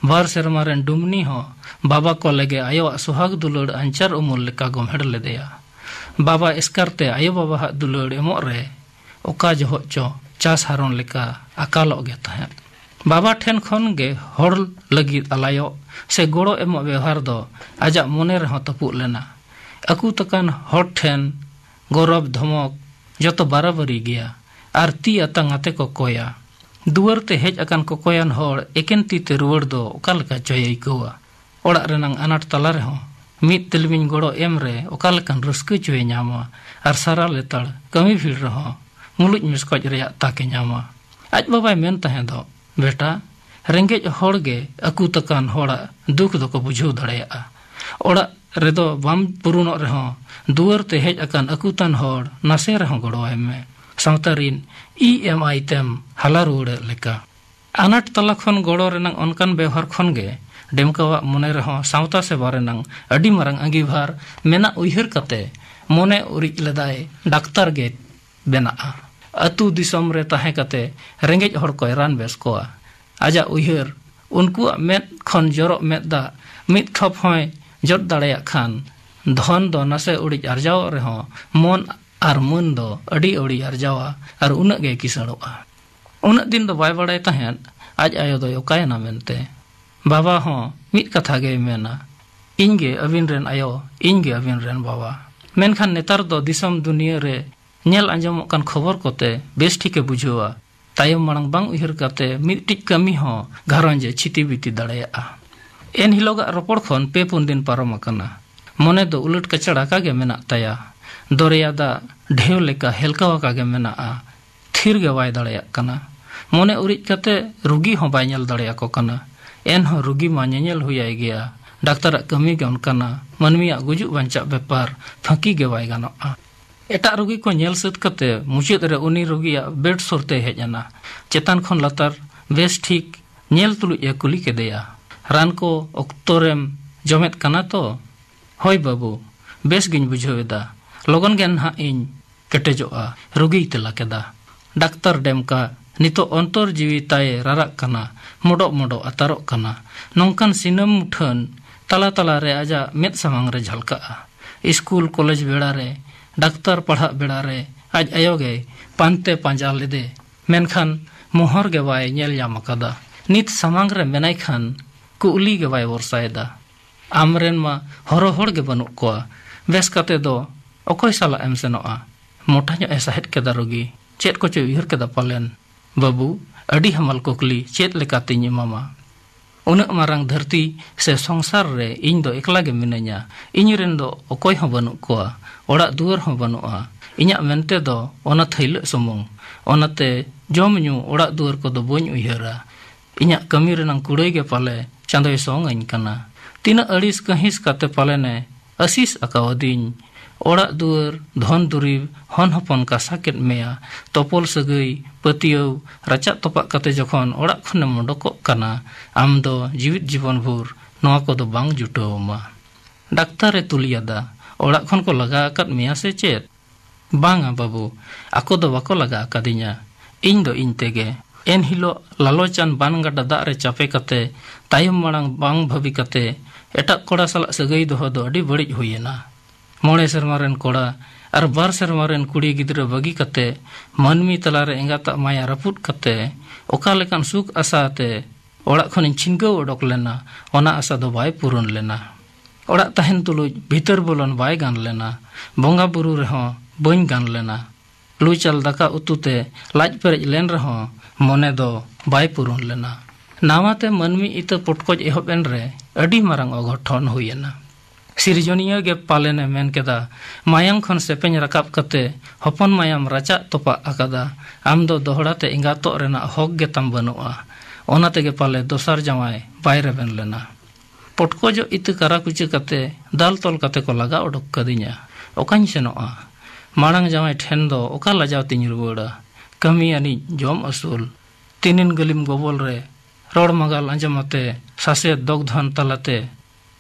ᱵᱟᱨ ᱥᱮᱨᱢᱟ ᱨᱮᱱ ᱰᱩᱢᱱᱤ ᱦᱚᱸ ᱵᱟᱵᱟ ᱠᱚ ᱞᱮᱜᱮ ᱟᱭᱳᱣᱟᱜ ᱥᱚᱦᱟᱜᱽ ᱫᱩᱞᱟᱹᱲ ᱟᱧᱪᱟᱨ ᱩᱢᱩᱞ ᱞᱮᱠᱟ ᱜᱚᱢᱦᱮᱲ ᱞᱮᱫᱮᱭᱟ᱾ ᱵᱟᱵᱟ ᱮᱥᱠᱟᱨ ᱛᱮ ᱟᱭᱳ ᱵᱟᱵᱟ ᱦᱟᱜ ᱫᱩᱞᱟᱹᱲ ᱮᱢᱚᱜ ᱨᱮ ᱚᱠᱟ ᱡᱚᱦᱚᱜ ᱪᱚ ᱪᱟᱥ ᱦᱟᱨᱚᱱ ᱞᱮᱠᱟ ᱟᱠᱟᱞᱚᱜ ᱜᱮ ᱛᱟᱦᱮᱸᱫ᱾ ᱵᱟᱵᱟ ᱴᱷᱮᱱ ᱠᱷᱚᱱ ᱜᱮ ᱦᱚᱲ ᱞᱟᱹᱜᱤᱫ ᱟᱞᱟᱭᱚᱜ ᱥᱮ ᱜᱚᱲᱚ ᱮᱢᱚᱜ ᱵᱮᱣᱦᱟᱨ ᱫᱚ ᱟᱡᱟᱜ ᱢᱚᱱᱮ ᱨᱮᱦᱚᱸ ᱛᱟᱹᱯᱩᱫ ᱞᱮᱱᱟ᱾ ᱟᱹᱠᱩᱛ ᱟᱠᱟᱱ ᱦᱚᱲ ᱴᱷᱮᱱ ᱜᱚᱨᱚᱵᱽ ᱫᱷᱚᱢᱚᱠ ᱡᱚᱛᱚ ᱵᱟᱨᱟᱵᱟᱹᱨᱤ ᱜᱮᱭᱟ ᱟᱨ ᱛᱤ ᱟᱛᱟᱝ ᱟᱛᱮ ᱠᱚ ᱠᱚᱭᱟ᱾ ᱫᱩᱣᱟᱹᱨ ᱛᱮ ᱦᱮᱡ ᱟᱠᱟᱱ ᱠᱚᱠᱚᱭᱟᱱ ᱦᱚᱲ ᱮᱠᱮᱱ ᱛᱤ ᱛᱮ ᱨᱩᱣᱟᱹᱲ ᱫᱚ ᱚᱠᱟ ᱞᱮᱠᱟ ᱪᱚᱭ ᱟᱹᱭᱠᱟᱹᱣᱟ᱾ ᱚᱲᱟᱜ ᱨᱮᱱᱟᱝ ᱟᱱᱟᱴ ᱛᱟᱞᱟ ᱨᱮᱦᱚᱸ ᱢᱤᱫ ᱛᱤᱞᱢᱤᱧ ᱜᱚᱲᱚ ᱮᱢ ᱨᱮ ᱚᱠᱟ ᱞᱮᱠᱟᱱ ᱨᱟᱹᱥᱠᱟᱹ ᱪᱚᱭᱮ ᱧᱟᱢᱟ ᱟᱨ ᱥᱟᱨᱟ ᱞᱮᱛᱟᱲ ᱠᱟᱹᱢᱤ ᱵᱷᱤᱲ ᱨᱮᱦᱚᱸ ᱢᱩᱞᱩᱡ ᱢᱮᱥᱠᱚᱡ ᱨᱮᱭᱟᱜ ᱛᱟᱠᱮ ᱧᱟᱢᱟ ᱟᱡ ᱵᱟᱵᱟᱭ ᱢᱮᱱ ᱛᱟᱦᱮᱸ ᱫᱚ ᱵᱮᱴᱟ ᱨᱮᱸᱜᱮᱡ ᱦᱚᱲ ᱜᱮ ᱟᱹᱠᱩ ᱛᱟᱠᱟᱱ ᱦᱚᱲᱟᱜ ᱫᱩᱠ ᱫᱚᱠᱚ ᱵᱩᱡᱷᱟᱹᱣ ᱫᱟᱲᱮᱭᱟᱜᱼᱟ ᱚᱲᱟᱜ ᱨᱮᱫᱚ ᱵᱟᱢ ᱯᱩᱨᱩᱱᱚᱜ ᱨᱮᱦᱚᱸ ᱫᱩᱣᱟᱹᱨ ᱛᱮ ᱦᱮᱡ ᱟᱠᱟᱱ ᱟᱹᱠᱩᱛᱟᱱ ᱦᱚᱲ ᱱᱟᱥᱮ ᱨᱮᱦᱚᱸ ᱜᱚᱲᱚᱣᱟᱭ ᱢᱮ ᱥᱟᱶᱛᱟ ᱨᱤᱱ ᱤ ᱮᱢ ᱟᱭ ᱛᱮᱢ ᱦᱟᱞᱟ ᱨᱩᱣᱟᱹᱲᱮᱫ ᱞᱮᱠᱟ ᱟᱱᱟᱴ ᱛᱟᱞᱟ ᱠᱷᱚᱱ ᱜᱚᱲᱚ ᱨᱮᱱᱟᱜ ᱚᱱᱠᱟᱱ ᱵᱮᱣᱦᱟᱨ ᱠᱷᱚᱱ ᱜᱮ ᱰᱮᱢᱠᱟᱣᱟᱜ ᱢᱚᱱᱮ ᱨᱮᱦᱚᱸ ᱥᱟᱶᱛᱟ ᱥᱮᱵᱟ ᱨᱮᱱᱟᱜ ᱟᱹᱰᱤ ᱢᱟᱨᱟᱝ ᱟᱺᱜᱤᱵᱷᱟᱨ ᱢᱮᱱᱟᱜ ᱩᱭᱦᱟᱹᱨ ᱠᱟᱛᱮ ᱢᱚᱱᱮ ᱩᱨᱤᱡ ᱞᱮᱫᱟᱭ ᱰᱟᱠᱛᱟᱨ ᱜᱮ ᱵᱮᱱᱟᱜᱼᱟ ᱟᱹᱛᱩ ᱫᱤᱥᱚᱢ ᱨᱮ ᱛᱟᱦᱮᱸ ᱠᱟᱛᱮ ᱨᱮᱸᱜᱮᱡ ᱦᱚᱲ ᱠᱚᱭ ᱨᱟᱱ ᱵᱮᱥ ᱠᱚᱣᱟ ᱟᱡᱟᱜ ᱩᱭᱦᱟᱹᱨ ᱩᱱᱠᱩᱣᱟᱜ ᱢᱮᱫ ᱠᱷᱚᱱ ᱡᱚᱨᱚᱜ ᱢᱮᱫ ᱫᱟᱜ ᱢᱤᱫ ᱴᱷᱚᱯ ᱦᱚᱸᱭ ᱡᱚᱫ ᱫᱟᱲᱮᱭᱟᱜ ᱠᱷᱟᱱ ᱫᱷᱚᱱ ᱫᱚ ᱱᱟᱥᱮ ᱩᱲᱤᱡ ᱟᱨᱡᱟᱣᱚᱜ ᱨᱮᱦᱚᱸ ᱢᱚᱱ ᱟᱨ ᱢᱟᱹᱱ ᱫᱚ ᱟᱹᱰᱤ ᱟᱹᱣᱲᱤ ᱟᱨᱡᱟᱣᱟ ᱟᱨ ᱩᱱᱟᱹᱜ ᱜᱮᱭ ᱠᱤᱥᱟᱹᱬᱚᱜᱼᱟ ᱩᱱᱟᱹᱜ ᱫᱤᱱ ᱫᱚ ᱵᱟᱭ ᱵᱟᱲᱟᱭ ᱛᱟᱦᱮᱸᱫ ᱟᱡ ᱟᱭᱳ ᱫᱚᱭ ᱚᱠᱟᱭᱮᱱᱟ ᱢᱮᱱᱛᱮ᱾ ᱵᱟᱵᱟ ᱦᱚᱸ ᱢᱤᱫ ᱠᱟᱛᱷᱟ ᱜᱮᱭ ᱢᱮᱱᱟ, ᱤᱧ ᱜᱮ ᱟᱹᱵᱤᱱ ᱨᱮᱱ ᱟᱭᱳ, ᱤᱧ ᱜᱮ ᱟᱹᱵᱤᱱ ᱨᱮᱱ ᱵᱟᱵᱟ᱾ ᱢᱮᱱᱠᱷᱟᱱ ᱱᱮᱛᱟᱨ ᱫᱚ ᱫᱤᱥᱚᱢ ᱫᱩᱱᱤᱭᱟᱹ ᱨᱮ ᱧᱮᱞ ᱟᱸᱡᱚᱢᱚᱜ ᱠᱟᱱ ᱠᱷᱚᱵᱚᱨ ᱠᱚᱛᱮ ᱵᱮᱥ ᱴᱷᱤᱠ ᱮ ᱵᱩᱡᱷᱟᱹᱣᱟ, ᱛᱟᱭᱚᱢ ᱢᱟᱲᱟᱝ ᱵᱟᱝ ᱩᱭᱦᱟᱹᱨ ᱠᱟᱛᱮ ᱢᱤᱫᱴᱤᱡ ᱠᱟᱹᱢᱤ ᱦᱚᱸ ᱜᱷᱟᱨᱚᱸᱡᱽ ᱮ ᱪᱷᱤᱛᱤ ᱵᱤᱛᱤ ᱫᱟᱲᱮᱭᱟᱜᱼᱟ᱾ ᱮᱱ ᱦᱤᱞᱚᱜᱟᱜ ᱨᱚᱯᱚᱲ ᱠᱷᱚᱱ ᱯᱮ ᱯᱩᱱ ᱫᱤᱱ ᱯᱟᱨᱚᱢ ᱟᱠᱟᱱᱟ᱾ ᱢᱚᱱᱮ ᱫᱚ ᱩᱞᱟᱹᱴ ᱠᱟᱪᱟᱲ ᱟᱠᱟ ᱜᱮ ᱢᱮᱱᱟᱜ ᱛᱟᱭᱟ᱾ ᱫᱚᱨᱮᱭᱟ ᱫᱟᱜ ᱰᱷᱮᱣ ᱞᱮᱠᱟ ᱦᱮᱞᱠᱟᱣ ᱟᱠᱟ ᱜᱮ ᱢᱮᱱᱟᱜᱼᱟ᱾ ᱛᱷᱤᱨ ᱜᱮ ᱵᱟᱭ ᱫᱟᱲᱮᱭᱟᱜ ᱠᱟᱱᱟ᱾ ᱢᱚᱱᱮ ᱩᱨᱤᱡ ᱠᱟᱛᱮ ᱨᱩᱜᱤ ᱦᱚᱸ ᱵᱟᱭ ᱧᱮᱞ ᱫᱟᱲᱮ ᱟᱠᱚ ᱠᱟᱱᱟ᱾ ᱮᱱᱦᱚᱸ ᱨᱩᱜᱤ ᱢᱟ ᱧᱮᱧᱮᱞ ᱦᱩᱭ ᱟᱭ ᱜᱮᱭᱟ᱾ ᱰᱟᱠᱛᱟᱨᱟᱜ ᱠᱟᱹᱢᱤ ᱜᱮ ᱚᱱᱠᱟᱱᱟ᱾ ᱢᱟᱹᱱᱢᱤᱭᱟᱜ ᱜᱩᱡᱩᱜ ᱵᱟᱧᱪᱟᱜ ᱵᱮᱯᱟᱨ ᱯᱷᱟᱹᱠᱤ ᱜᱮ ᱵᱟᱭ ᱜᱟᱱᱚᱜᱼᱟ᱾ ᱮᱴᱟᱜ ᱨᱩᱜᱤ ᱠᱚ ᱧᱮᱞ ᱥᱟᱹᱛ ᱠᱟᱛᱮ ᱢᱩᱪᱟᱹᱫ ᱨᱮ ᱩᱱᱤ ᱨᱩᱜᱤᱭᱟᱜ ᱵᱮᱰ ᱥᱩᱨ ᱛᱮᱭ ᱦᱮᱡ ᱮᱱᱟ᱾ ᱪᱮᱛᱟᱱ ᱠᱷᱚᱱ ᱞᱟᱛᱟᱨ ᱵᱮᱥ ᱴᱷᱤᱠ ᱧᱮᱞ ᱛᱩᱞᱩᱡ ᱮ ᱠᱩᱞᱤ ᱠᱮᱫᱮᱭᱟ, ᱨᱟᱱ ᱠᱚ ᱚᱠᱛᱚ ᱨᱮᱢ ᱡᱚᱢᱮᱫ ᱠᱟᱱᱟ ᱛᱚ? ᱦᱚᱭ ᱵᱟᱹᱵᱩ, ᱵᱮᱥ ᱜᱮᱧ ᱵᱩᱡᱷᱟᱹᱣ ᱮᱫᱟ᱾ ᱞᱚᱜᱚᱱ ᱜᱮ ᱱᱷᱟᱜ ᱤᱧ ᱠᱮᱴᱮᱡᱚᱜᱼᱟ ᱨᱩᱜᱤᱭ ᱛᱮᱞᱟ ᱠᱮᱫᱟ ᱰᱟᱠᱛᱟᱨ ᱰᱮᱢᱠᱟ ᱱᱤᱛᱚᱜ ᱚᱱᱛᱚᱨ ᱡᱤᱣᱤ ᱛᱟᱭᱮ ᱨᱟᱨᱟᱜ ᱠᱟᱱᱟ ᱢᱚᱰᱚᱜ ᱢᱚᱰᱚᱜ ᱟᱛᱟᱨᱚᱜ ᱠᱟᱱᱟ ᱱᱚᱝᱠᱟᱱ ᱥᱤᱱᱟᱹᱢ ᱢᱩᱴᱷᱟᱹᱱ ᱛᱟᱞᱟ ᱛᱟᱞᱟ ᱨᱮ ᱟᱡᱟᱜ ᱢᱮᱫ ᱥᱟᱢᱟᱝ ᱨᱮ ᱡᱷᱟᱞᱠᱟᱜᱼᱟ ᱤᱥᱠᱩᱞ ᱠᱚᱞᱮᱡᱽ ᱵᱮᱲᱟ ᱨᱮ ᱰᱟᱠᱛᱟᱨ ᱯᱟᱲᱦᱟᱜ ᱵᱮᱲᱟ ᱨᱮ ᱟᱡ ᱟᱭᱳ ᱜᱮᱭ ᱯᱟᱱᱛᱮ ᱯᱟᱸᱡᱟ ᱞᱮᱫᱮ ᱢᱮᱱᱠᱷᱟᱱ ᱢᱚᱦᱚᱨ ᱜᱮ ᱵᱟᱭ ᱧᱮᱞ ᱧᱟᱢ ᱟᱠᱟᱫᱟ ᱱᱤᱛ ᱥᱟᱢᱟᱝ ᱨᱮ ᱢᱮᱱᱟᱭ ᱠᱷᱟᱱ ᱠᱩᱜᱞᱤ ᱜᱮ ᱵᱟᱭ ᱵᱚᱨᱥᱟᱭᱮᱫᱟ ᱟᱢ ᱨᱮᱱ ᱢᱟ ᱦᱚᱨᱚ ᱦᱚᱲ ᱜᱮ ᱵᱟᱹᱱᱩᱜ ᱠᱚᱣᱟ᱾ ᱵᱮᱥ ᱠᱟᱛᱮ ᱫᱚ ᱚᱠᱚᱭ ᱥᱟᱞᱟᱜ ᱮᱢ ᱥᱮᱱᱚᱜᱼᱟ? ᱢᱚᱴᱟ ᱧᱚᱜ ᱮ ᱥᱟᱦᱮᱫ ᱠᱮᱫᱟ ᱨᱳᱜᱤ᱾ ᱪᱮᱫ ᱠᱚᱪᱚᱭ ᱩᱭᱦᱟᱹᱨ ᱠᱮᱫᱟ ᱯᱟᱞᱮᱱ᱾ ᱵᱟᱹᱵᱩ, ᱟᱹᱰᱤ ᱦᱟᱢᱟᱞ ᱠᱩᱠᱞᱤ ᱪᱮᱫ ᱞᱮᱠᱟ ᱛᱮᱧ ᱮᱢᱟᱢᱟ? ᱩᱱᱟᱹᱜ ᱢᱟᱨᱟᱝ ᱫᱷᱟᱹᱨᱛᱤ ᱥᱮ ᱥᱚᱝᱥᱟᱨ ᱨᱮ ᱤᱧ ᱫᱚ ᱮᱠᱞᱟ ᱜᱮ ᱢᱤᱱᱟᱹᱧᱟ᱾ ᱤᱧ ᱨᱮᱱ ᱫᱚ ᱚᱠᱚᱭ ᱦᱚᱸ ᱵᱟᱹᱱᱩᱜ ᱠᱚᱣᱟ᱾ ᱚᱲᱟᱜ ᱫᱩᱣᱟᱹᱨ ᱦᱚᱸ ᱵᱟᱹᱱᱩᱜᱼᱟ᱾ ᱤᱧᱟᱜ ᱢᱮᱱᱛᱮ ᱫᱚ ᱚᱱᱟ ᱛᱷᱟᱹᱭᱞᱟᱹᱜ ᱥᱩᱢᱩᱝ᱾ ᱚᱱᱟᱛᱮ ᱡᱚᱢ ᱧᱩ, ᱚᱲᱟᱜ ᱫᱩᱣᱟᱹᱨ ᱠᱚᱫᱚ ᱵᱟᱹᱧ ᱩᱭᱦᱟᱹᱨᱟ᱾ ᱤᱧᱟᱜ ᱠᱟᱹᱢᱤ ᱨᱮᱱᱟᱝ ᱠᱩᱲᱟᱹᱭ ᱜᱮ ᱯᱟᱞᱮ ᱪᱟᱸᱫᱚᱭ ᱥᱚᱝ ᱟᱹᱧ ᱠᱟᱱᱟ᱾ ᱛᱤᱱᱟᱹᱜ ᱟᱹᱲᱤᱥ ᱠᱟᱺᱦᱤᱥ ᱠᱟᱛᱮ ᱯᱟᱞᱮᱱ ᱮ ᱟᱹᱥᱤᱥ ᱟᱠᱟᱣ ᱟᱹᱫᱤᱧ᱾ ᱚᱲᱟᱜ ᱫᱩᱣᱟᱹᱨ, ᱫᱷᱚᱱ ᱫᱩᱨᱤᱵᱽ, ᱦᱚᱱ ᱦᱚᱯᱚᱱ ᱠᱟᱥᱟ ᱠᱮᱫ ᱢᱮᱭᱟ᱾ ᱛᱚᱯᱚᱞ ᱥᱟᱹᱜᱟᱹᱭ, ᱯᱟᱹᱛᱭᱟᱹᱣ, ᱨᱟᱪᱟᱜ ᱛᱚᱯᱟᱜ ᱠᱟᱛᱮ ᱡᱚᱠᱷᱚᱱ ᱚᱲᱟᱜ ᱠᱷᱚᱱ ᱮᱢ ᱚᱰᱚᱠᱚᱜ ᱠᱟᱱᱟ, ᱟᱢ ᱫᱚ ᱡᱤᱣᱤᱫ ᱡᱤᱵᱚᱱ ᱵᱷᱩᱨ ᱱᱚᱶᱟ ᱠᱚ ᱫᱚ ᱵᱟᱝ ᱡᱩᱴᱟᱹᱣ ᱟᱢᱟ᱾ ᱰᱟᱠᱛᱟᱨ ᱮ ᱛᱩᱞᱤᱭᱟᱫᱟ, ᱚᱲᱟᱜ ᱠᱷᱚᱱ ᱠᱚ ᱞᱟᱜᱟ ᱟᱠᱟᱫ ᱢᱮᱭᱟ ᱥᱮ ᱪᱮᱫ? ᱵᱟᱝᱟ ᱵᱟᱹᱵᱩ, ᱟᱠᱚ ᱫᱚ ᱵᱟᱠᱚ ᱞᱟᱜᱟ ᱟᱠᱟᱫᱤᱧᱟ᱾ ᱤᱧ ᱫᱚ ᱤᱧ ᱛᱮᱜᱮ᱾ ᱮᱱ ᱦᱤᱞᱚᱜ ᱞᱟᱞᱚᱪᱟᱱ ᱵᱟᱱ ᱜᱟᱰᱟ ᱫᱟᱜ ᱨᱮ ᱪᱟᱯᱮ ᱠᱟᱛᱮ ᱛᱟᱭᱚᱢ ᱢᱟᱬᱟᱝ ᱵᱟᱝ ᱵᱷᱟᱹᱵᱤ ᱠᱟᱛᱮ ᱮᱴᱟᱜ ᱠᱚᱲᱟ ᱥᱟᱞᱟᱜ ᱥᱟᱹᱜᱟᱹᱭ ᱫᱚᱦᱚ ᱫᱚ ᱟᱹᱰᱤ ᱵᱟᱹᱲᱤᱡ ᱦᱩᱭ ᱮᱱᱟ᱾ ᱢᱚᱬᱮ ᱥᱮᱨᱢᱟ ᱨᱮᱱ ᱠᱚᱲᱟ ᱟᱨ ᱵᱟᱨ ᱥᱮᱨᱢᱟ ᱨᱮᱱ ᱠᱩᱲᱤ ᱜᱤᱫᱽᱨᱟᱹ ᱵᱟᱹᱜᱤ ᱠᱟᱛᱮ ᱢᱟᱹᱱᱢᱤ ᱛᱟᱞᱟ ᱨᱮ ᱮᱸᱜᱟᱛᱟᱜ ᱢᱟᱭᱟ ᱨᱟᱹᱯᱩᱫ ᱠᱟᱛᱮ ᱚᱠᱟ ᱞᱮᱠᱟᱱ ᱥᱩᱠ ᱟᱥᱟ ᱟᱛᱮ ᱚᱲᱟᱜ ᱠᱷᱚᱱᱤᱧ ᱪᱷᱤᱱᱜᱟᱹᱣ ᱚᱰᱚᱠ ᱞᱮᱱᱟ ᱚᱱᱟ ᱟᱥᱟ ᱫᱚ ᱵᱟᱭ ᱯᱩᱨᱩᱱ ᱞᱮᱱᱟ᱾ ᱚᱲᱟᱜ ᱛᱟᱦᱮᱱ ᱛᱩᱞᱩᱡ ᱵᱷᱤᱛᱟᱹᱨ ᱵᱚᱞᱚᱱ ᱵᱟᱭ ᱜᱟᱱ ᱞᱮᱱᱟ᱾ ᱵᱚᱸᱜᱟ ᱵᱩᱨᱩ ᱨᱮᱦᱚᱸ ᱵᱟᱹᱧ ᱜᱟᱱ ᱞᱮᱱᱟ᱾ ᱞᱩᱪᱟᱞ ᱫᱟᱠᱟ ᱩᱛᱩ ᱛᱮ ᱞᱟᱡ ᱯᱮᱨᱮᱡ ᱞᱮᱱ ᱨᱮᱦᱚᱸ ᱢᱚᱱᱮ ᱫᱚ ᱵᱟᱭ ᱯᱩᱨᱩᱱ ᱞᱮᱱᱟ᱾ ᱱᱟᱶᱟ ᱛᱮ ᱢᱟᱹᱱᱢᱤ ᱤᱛᱟᱹ ᱯᱚᱴᱠᱚᱡ ᱮᱦᱚᱵ ᱮᱱ ᱨᱮ ᱟᱹᱰᱤ ᱢᱟᱨᱟᱝ ᱚᱜᱷᱚᱴᱷᱚᱱ ᱦᱩᱭ ᱮᱱᱟ᱾ ᱥᱤᱨᱡᱚᱱᱤᱭᱟᱹ ᱜᱮ ᱯᱟᱞᱮᱱ ᱮ ᱢᱮᱱ ᱠᱮᱫᱟ ᱢᱟᱭᱟᱝ ᱠᱷᱚᱱ ᱥᱮᱯᱮᱧ ᱨᱟᱠᱟᱵ ᱠᱟᱛᱮ ᱦᱚᱯᱚᱱ ᱢᱟᱭᱟᱢ ᱨᱟᱪᱟᱜ ᱛᱚᱯᱟᱜ ᱟᱠᱟᱫᱟ᱾ ᱟᱢ ᱫᱚ ᱫᱚᱦᱲᱟ ᱛᱮ ᱮᱸᱜᱟᱛᱚᱜ ᱨᱮᱱᱟᱜ ᱦᱚᱠ ᱜᱮ ᱛᱟᱢ ᱵᱟᱹᱱᱩᱜᱼᱟ᱾ ᱚᱱᱟ ᱛᱮᱜᱮ ᱯᱟᱞᱮ ᱫᱚᱥᱟᱨ ᱡᱟᱶᱟᱭ ᱵᱟᱭ ᱨᱮᱵᱮᱱ ᱞᱮᱱᱟ᱾ ᱯᱚᱴᱠᱚᱡᱚᱜ ᱤᱛᱟᱹ ᱠᱟᱨᱟ ᱠᱩᱪᱟᱹ ᱠᱟᱛᱮ ᱫᱟᱞ ᱛᱚᱞ ᱠᱟᱛᱮ ᱠᱚ ᱞᱟᱜᱟ ᱚᱰᱚᱠ ᱠᱟᱹᱫᱤᱧᱟ᱾ ᱚᱠᱟᱧ ᱥᱮᱱᱚᱜᱼᱟ? ᱢᱟᱬᱟᱝ ᱡᱟᱶᱟᱭ ᱴᱷᱮᱱ ᱫᱚ ᱚᱠᱟ ᱞᱟᱡᱟᱣ ᱛᱮᱧ ᱨᱩᱣᱟᱹᱲᱟ? ᱠᱟᱹᱢᱤ ᱟᱹᱱᱤᱡ ᱡᱚᱢ ᱟᱹᱥᱩᱞ᱾ ᱛᱤᱱᱤᱱ ᱜᱟᱹᱞᱤᱢ ᱜᱚᱵᱚᱞ ᱨᱮ ᱨᱚᱲ ᱢᱟᱜᱟᱞ ᱟᱸᱡᱚᱢ ᱟᱛᱮ ᱥᱟᱥᱮᱛ ᱫᱚᱜᱽᱫᱷᱚᱱ ᱛᱟᱞᱟᱛᱮ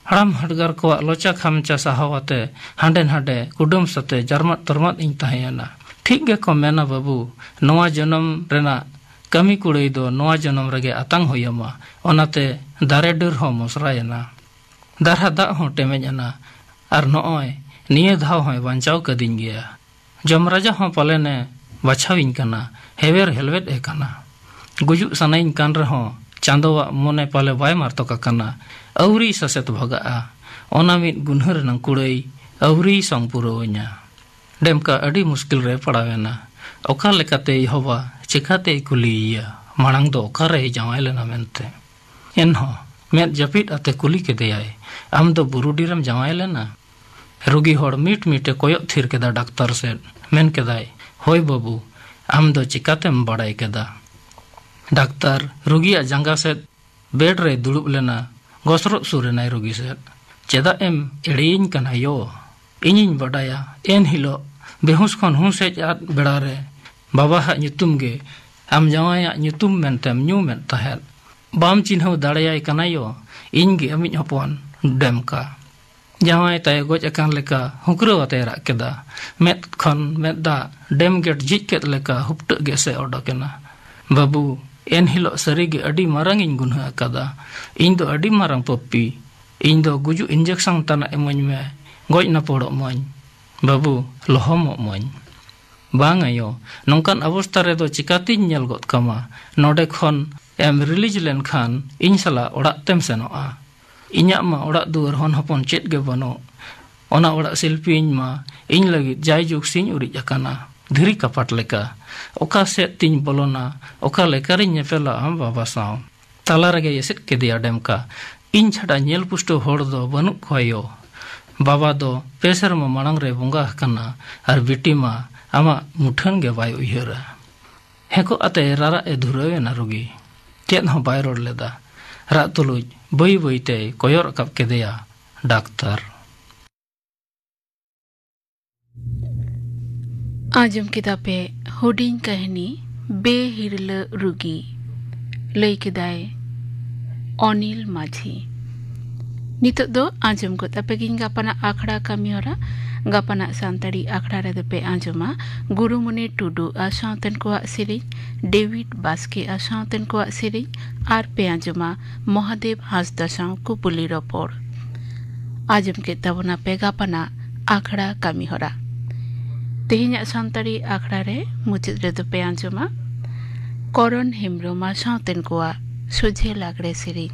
ᱦᱟᱲᱟᱢ ᱦᱟᱰᱜᱟᱨ ᱠᱚᱣᱟᱜ ᱞᱚᱪᱟ ᱠᱷᱟᱢᱪᱟ ᱥᱟᱦᱟᱣ ᱟᱛᱮ ᱦᱟᱸᱰᱮ ᱱᱷᱟᱰᱮ ᱠᱩᱰᱟᱹᱢ ᱥᱟᱛᱮ ᱡᱟᱨᱢᱟᱫ ᱛᱚᱨᱢᱟᱫ ᱤᱧ ᱛᱟᱦᱮᱸᱭᱮᱱᱟ᱾ ᱴᱷᱤᱠ ᱜᱮᱠᱚ ᱢᱮᱱᱟ ᱵᱟᱹᱵᱩ ᱱᱚᱶᱟ ᱡᱚᱱᱚᱢ ᱨᱮᱱᱟᱜ ᱠᱟᱹᱢᱤ ᱠᱩᱲᱟᱹᱭ ᱫᱚ ᱱᱚᱣᱟ ᱡᱚᱱᱚᱢ ᱨᱮᱜᱮ ᱟᱛᱟᱝ ᱦᱩᱭᱟᱢᱟ ᱚᱱᱟᱛᱮ ᱫᱟᱨᱮ ᱰᱟᱹᱨ ᱦᱚᱸ ᱢᱚᱥᱨᱟᱭᱮᱱᱟ ᱫᱟᱨᱦᱟ ᱫᱟᱜ ᱦᱚᱸ ᱴᱮᱢᱮᱡ ᱮᱱᱟ ᱟᱨ ᱱᱚᱜᱼᱚᱭ ᱱᱤᱭᱟᱹ ᱫᱷᱟᱣ ᱦᱚᱸᱭ ᱵᱟᱧᱪᱟᱣ ᱠᱟᱹᱫᱤᱧ ᱜᱮᱭᱟ ᱡᱚᱢ ᱨᱟᱡᱟ ᱦᱚᱸ ᱯᱟᱞᱮᱱᱮ ᱵᱟᱪᱷᱟᱣᱤᱧ ᱠᱟᱱᱟ ᱦᱮᱣᱮᱨ ᱦᱮᱞᱣᱮᱫ ᱮ ᱠᱟᱱᱟ ᱜᱩᱡᱩᱜ ᱥᱟᱱᱟᱭᱤᱧ ᱠᱟᱱ ᱨᱮᱦᱚᱸ ᱪᱟᱸᱫᱚᱣᱟᱜ ᱢᱚᱱᱮ ᱯᱟᱞᱮ ᱵᱟᱭ ᱢᱟᱨᱛᱚᱠ ᱟᱠᱟᱱᱟ ᱟᱹᱣᱨᱤ ᱥᱟᱥᱮᱛ ᱵᱷᱟᱜᱟᱜᱼᱟ ᱚᱱᱟ ᱢᱤᱫ ᱜᱩᱱᱦᱟᱹ ᱨᱮᱱᱟᱝ ᱠᱩᱲᱟᱹᱭ ᱟᱹᱣᱨᱤᱭ ᱥᱚᱝ ᱯᱩᱨᱟᱹᱣᱟᱹᱧᱟ ᱰᱮᱢᱠᱟ ᱟᱹᱰᱤ ᱢᱩᱥᱠᱤᱞ ᱨᱮ ᱯᱟᱲᱟᱣ ᱮᱱᱟ ᱚᱠᱟ ᱞᱮᱠᱟᱛᱮ ᱤᱦᱚᱵᱟ ᱪᱮᱠᱟᱛᱮᱭ ᱠᱩᱞᱤᱭᱮᱭᱟ ᱢᱟᱲᱟᱝ ᱫᱚ ᱚᱠᱟᱨᱮᱭ ᱡᱟᱶᱟᱭ ᱞᱮᱱᱟ ᱢᱮᱱᱛᱮ ᱮᱱᱦᱚᱸ ᱢᱮᱫ ᱡᱟᱹᱯᱤᱫ ᱟᱛᱮ ᱠᱩᱞᱤ ᱠᱮᱫᱮᱭᱟᱭ ᱟᱢ ᱫᱚ ᱵᱩᱨᱩᱰᱤ ᱨᱮᱢ ᱡᱟᱶᱟᱭ ᱞᱮᱱᱟ ᱨᱩᱜᱤ ᱦᱚᱲ ᱢᱤᱴ ᱢᱤᱴᱮ ᱠᱚᱭᱚᱜ ᱛᱷᱤᱨ ᱠᱮᱫᱟ ᱰᱟᱠᱛᱟᱨ ᱥᱮᱫ ᱢᱮᱱ ᱠᱮᱫᱟᱭ ᱦᱳᱭ ᱵᱟᱹᱵᱩ ᱟᱢ ᱫᱚ ᱪᱮᱠᱟᱛᱮᱢ ᱵᱟᱲᱟᱭ ᱠᱮᱫᱟ ᱰᱟᱠᱛᱟᱨ ᱨᱩᱜᱤᱭᱟᱜ ᱡᱟᱸᱜᱟ ᱥᱮᱫ ᱵᱮᱰ ᱨᱮᱭ ᱫᱩᱲᱩᱵ ᱞᱮᱱᱟ ᱜᱚᱥᱨᱚᱜ ᱥᱩᱨ ᱮᱱᱟᱭ ᱨᱩᱜᱤ ᱥᱮᱫ ᱪᱮᱫᱟᱜ ᱮᱢ ᱮᱲᱮᱭᱤᱧ ᱠᱟᱱᱟ ᱭᱚ ᱤᱧᱤᱧ ᱵᱟᱰᱟᱭᱟ ᱮᱱ ᱦᱤᱞᱳᱜ ᱵᱮᱦᱩᱥ ᱠᱷᱚᱱ ᱦᱩᱸᱥ ᱦᱮᱡ ᱟᱫ ᱵᱮᱲᱟ ᱨᱮ ᱵᱟᱵᱟᱦᱟᱜ ᱧᱩᱛᱩᱢ ᱜᱮ ᱟᱢ ᱡᱟᱶᱟᱭᱟᱜ ᱧᱩᱛᱩᱢ ᱢᱮᱱᱛᱮᱢ ᱧᱩᱢᱮᱫ ᱛᱟᱦᱮᱸᱫ ᱵᱟᱢ ᱪᱤᱱᱦᱟᱹᱣ ᱫᱟᱲᱮᱭᱟᱭ ᱠᱟᱱᱟ ᱭᱚ ᱤᱧ ᱜᱮ ᱟᱢᱤᱡ ᱦᱚᱯᱚᱱ ᱰᱮᱢᱠᱟ ᱡᱟᱶᱟᱭ ᱛᱟᱭ ᱜᱚᱡ ᱟᱠᱟᱱ ᱞᱮᱠᱟ ᱦᱩᱸᱠᱨᱟᱹᱣ ᱟᱛᱮ ᱨᱟᱜ ᱠᱮᱫᱟ ᱢᱮᱫ ᱠᱷᱚᱱ ᱢᱮᱫ ᱫᱟᱜ ᱰᱮᱢ ᱜᱮᱴ ᱡᱷᱤᱡ ᱠᱮᱫ ᱞᱮᱠᱟ ᱦᱩᱯᱴᱟᱹᱜ ᱜᱮ ᱥᱮ ᱚᱰᱚᱠ ᱮᱱᱟ ᱵᱟᱹᱵᱩ ᱮᱱ ᱦᱤᱞᱚᱜ ᱥᱟᱹᱨᱤ ᱜᱮ ᱟᱹᱰᱤ ᱢᱟᱨᱟᱝ ᱤᱧ ᱜᱩᱱᱦᱟᱹ ᱟᱠᱟᱫᱟ ᱤᱧ ᱫᱚ ᱟᱹᱰᱤ ᱢᱟᱨᱟᱝ ᱯᱚᱯᱯᱤ ᱤᱧ ᱫᱚ ᱜᱩᱡᱩᱜ ᱤᱱᱡᱮᱠᱥᱚᱱ ᱛᱟᱱᱟᱜ ᱮᱢᱟᱹᱧ ᱢᱮ ᱜᱚᱡ ᱱᱟᱯᱚᱲᱚᱜ ᱢᱟᱹᱧ ᱵᱟᱹᱵᱩ ᱞᱚᱦᱚᱢᱚᱜ ᱢᱟᱹᱧ ᱵᱟᱝ ᱟᱭᱳ ᱱᱚᱝᱠᱟᱱ ᱚᱵᱚᱥᱛᱟ ᱨᱮᱫᱚ ᱪᱤᱠᱟᱹᱛᱤᱧ ᱧᱮᱞ ᱜᱚᱫ ᱠᱟᱢᱟ ᱱᱚᱰᱮ ᱠᱷᱚᱱ ᱮᱢ ᱨᱤᱞᱤᱡᱽ ᱞᱮᱱᱠᱷᱟᱱ ᱤᱧ ᱥᱟᱞᱟᱜ ᱚᱲᱟᱜ ᱛᱮᱢ ᱥᱮᱱᱚᱜᱼᱟ ᱤᱧᱟᱜ ᱢᱟ ᱚᱲᱟᱜ ᱫᱩᱣᱟᱹᱨ ᱦᱚᱱ ᱦᱚᱯᱚᱱ ᱪᱮᱫ ᱜᱮ ᱵᱟᱹᱱᱩᱜ ᱚᱱᱟ ᱚᱲᱟᱜ ᱥᱤᱞᱯᱤ ᱤᱧ ᱢᱟ ᱤᱧ ᱞᱟᱹᱜᱤᱫ ᱡᱟᱭ ᱡᱩᱜᱽ ᱥᱤᱧ ᱩᱨᱤᱡ ᱟᱠᱟᱱᱟ ᱫᱷᱤᱨᱤ ᱠᱟᱯᱟᱴ ᱞᱮᱠᱟ ᱚᱠᱟ ᱥᱮᱫ ᱛᱤᱧ ᱵᱚᱞᱚᱱᱟ ᱚᱠᱟ ᱞᱮᱠᱟ ᱨᱤᱧ ᱧᱮᱯᱮᱞᱟ ᱟᱢ ᱵᱟᱵᱟ ᱥᱟᱶ ᱛᱟᱞᱟ ᱨᱮᱜᱮᱭ ᱮᱥᱮᱫ ᱠᱮᱫᱮᱭᱟ ᱰᱮᱢᱠᱟ ᱤᱧ ᱪᱷᱟᱰᱟ ᱧᱮᱞ ᱯᱩᱥᱴᱟᱹᱣ ᱦᱚᱲ ᱫᱚ ᱵᱟᱹᱱᱩᱜ ᱠᱚᱣᱟ ᱭᱳ ᱵᱟᱵᱟ ᱫᱚ ᱯᱮ ᱥᱮᱨᱢᱟ ᱢᱟᱲᱟᱝ ᱨᱮᱭ ᱵᱚᱸᱜᱟ ᱟᱠᱟᱱᱟ ᱟᱨ ᱵᱤᱴᱤ ᱢᱟ ᱟᱢᱟᱜ ᱢᱩᱴᱷᱟᱹᱱ ᱜᱮ ᱵᱟᱭ ᱩᱭᱦᱟᱹᱨᱟ ᱦᱮᱸᱠᱚᱜ ᱟᱛᱮ ᱨᱟᱨᱟᱜ ᱮ ᱫᱷᱩᱨᱟᱹᱣ ᱮᱱᱟ ᱨᱩᱜᱤ ᱪᱮᱫ ᱦᱚᱸ ᱵᱟᱭ ᱨᱚᱲ ᱞᱮᱫᱟ ᱨᱟᱜ ᱛᱩᱞᱩᱡ ᱵᱟᱹᱭ ᱵᱟᱹᱭ ᱛᱮᱭ ᱠᱚᱭᱚᱜ ᱨᱟᱠᱟᱵ ᱠᱮᱫᱮᱭᱟ ᱰᱟᱠᱛᱟᱨ ᱟᱸᱡᱚᱢ ᱠᱮᱫᱟ ᱯᱮ ᱦᱩᱰᱤᱧ ᱠᱟᱹᱦᱱᱤ ᱵᱮᱦᱤᱨᱞᱟᱹ ᱨᱩᱜᱤ ᱞᱟᱹᱭ ᱠᱮᱫᱟᱭ ᱚᱱᱤᱞ ᱢᱟᱹᱡᱷᱤ ᱱᱤᱛᱚᱜ ᱫᱚ ᱟᱸᱡᱚᱢ ᱜᱚᱫ ᱟᱯᱮ ᱜᱤᱧ ᱜᱟᱯᱟᱱᱟᱜ ᱟᱠᱷᱲᱟ ᱠᱟᱹᱢᱤᱦᱚᱨᱟ ᱜᱟᱯᱟᱱᱟᱜ ᱥᱟᱱᱛᱟᱲᱤ ᱟᱠᱷᱲᱟ ᱨᱮᱫᱚ ᱯᱮ ᱟᱸᱡᱚᱢᱟ ᱜᱩᱨᱩᱢᱩᱱᱤ ᱴᱩᱰᱩ ᱟᱨ ᱥᱟᱶᱛᱮᱱ ᱠᱚᱣᱟᱜ ᱥᱮᱨᱮᱧ ᱰᱮᱵᱷᱤᱰ ᱵᱟᱥᱠᱮ ᱟᱨ ᱥᱟᱶᱛᱮᱱ ᱠᱚᱣᱟᱜ ᱥᱮᱨᱮᱧ ᱟᱨ ᱯᱮ ᱟᱸᱡᱚᱢᱟ ᱢᱚᱦᱟᱫᱮᱵ ᱦᱟᱸᱥᱫᱟ ᱥᱟᱶ ᱠᱩᱯᱩᱞᱤ ᱨᱚᱯᱚᱲ ᱟᱸᱡᱚᱢ ᱠᱮᱫ ᱛᱟᱵᱚᱱᱟ ᱯᱮ ᱜᱟᱯᱟᱱᱟᱜ ᱟᱠᱷᱲᱟ ᱠᱟᱹᱢᱤᱦᱚᱨᱟ ᱛᱮᱦᱮᱧᱟᱜ ᱥᱟᱱᱛᱟᱲᱤ ᱟᱠᱷᱲᱟ ᱨᱮ ᱢᱩᱪᱟᱹᱫ ᱨᱮᱫᱚ ᱯᱮ ᱟᱸᱡᱚᱢᱟ ᱠᱚᱨᱚᱱ ᱦᱮᱢᱵᱨᱚᱢ ᱟᱨ ᱥᱟᱶᱛᱮᱱ ᱠᱚᱣᱟᱜ ᱥᱚᱡᱷᱮ ᱞᱟᱜᱽᱲᱮ ᱥᱮᱨᱮᱧ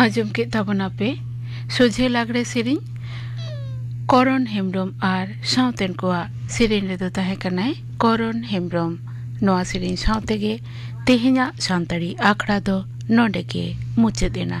ᱟᱸᱡᱚᱢ ᱠᱮᱫ ᱛᱟᱵᱚᱱᱟᱯᱮ ᱥᱚᱡᱷᱮ ᱞᱟᱜᱽᱲᱮ ᱥᱮᱨᱮᱧ ᱠᱚᱨᱚᱱ ᱦᱮᱢᱵᱨᱚᱢ ᱟᱨ ᱥᱟᱶᱛᱮᱱ ᱠᱚᱣᱟᱜ ᱥᱮᱨᱮᱧ ᱨᱮᱫᱚ ᱛᱟᱦᱮᱸ ᱠᱟᱱᱟᱭ ᱠᱚᱨᱚᱱ ᱦᱮᱢᱵᱨᱚᱢ ᱱᱚᱣᱟ ᱥᱮᱨᱮᱧ ᱥᱟᱶ ᱛᱮᱜᱮ ᱛᱮᱦᱮᱧᱟᱜ ᱥᱟᱱᱛᱟᱲᱤ ᱟᱠᱷᱲᱟ ᱫᱚ ᱱᱚᱰᱮ ᱜᱮ ᱢᱩᱪᱟᱹᱫ ᱮᱱᱟ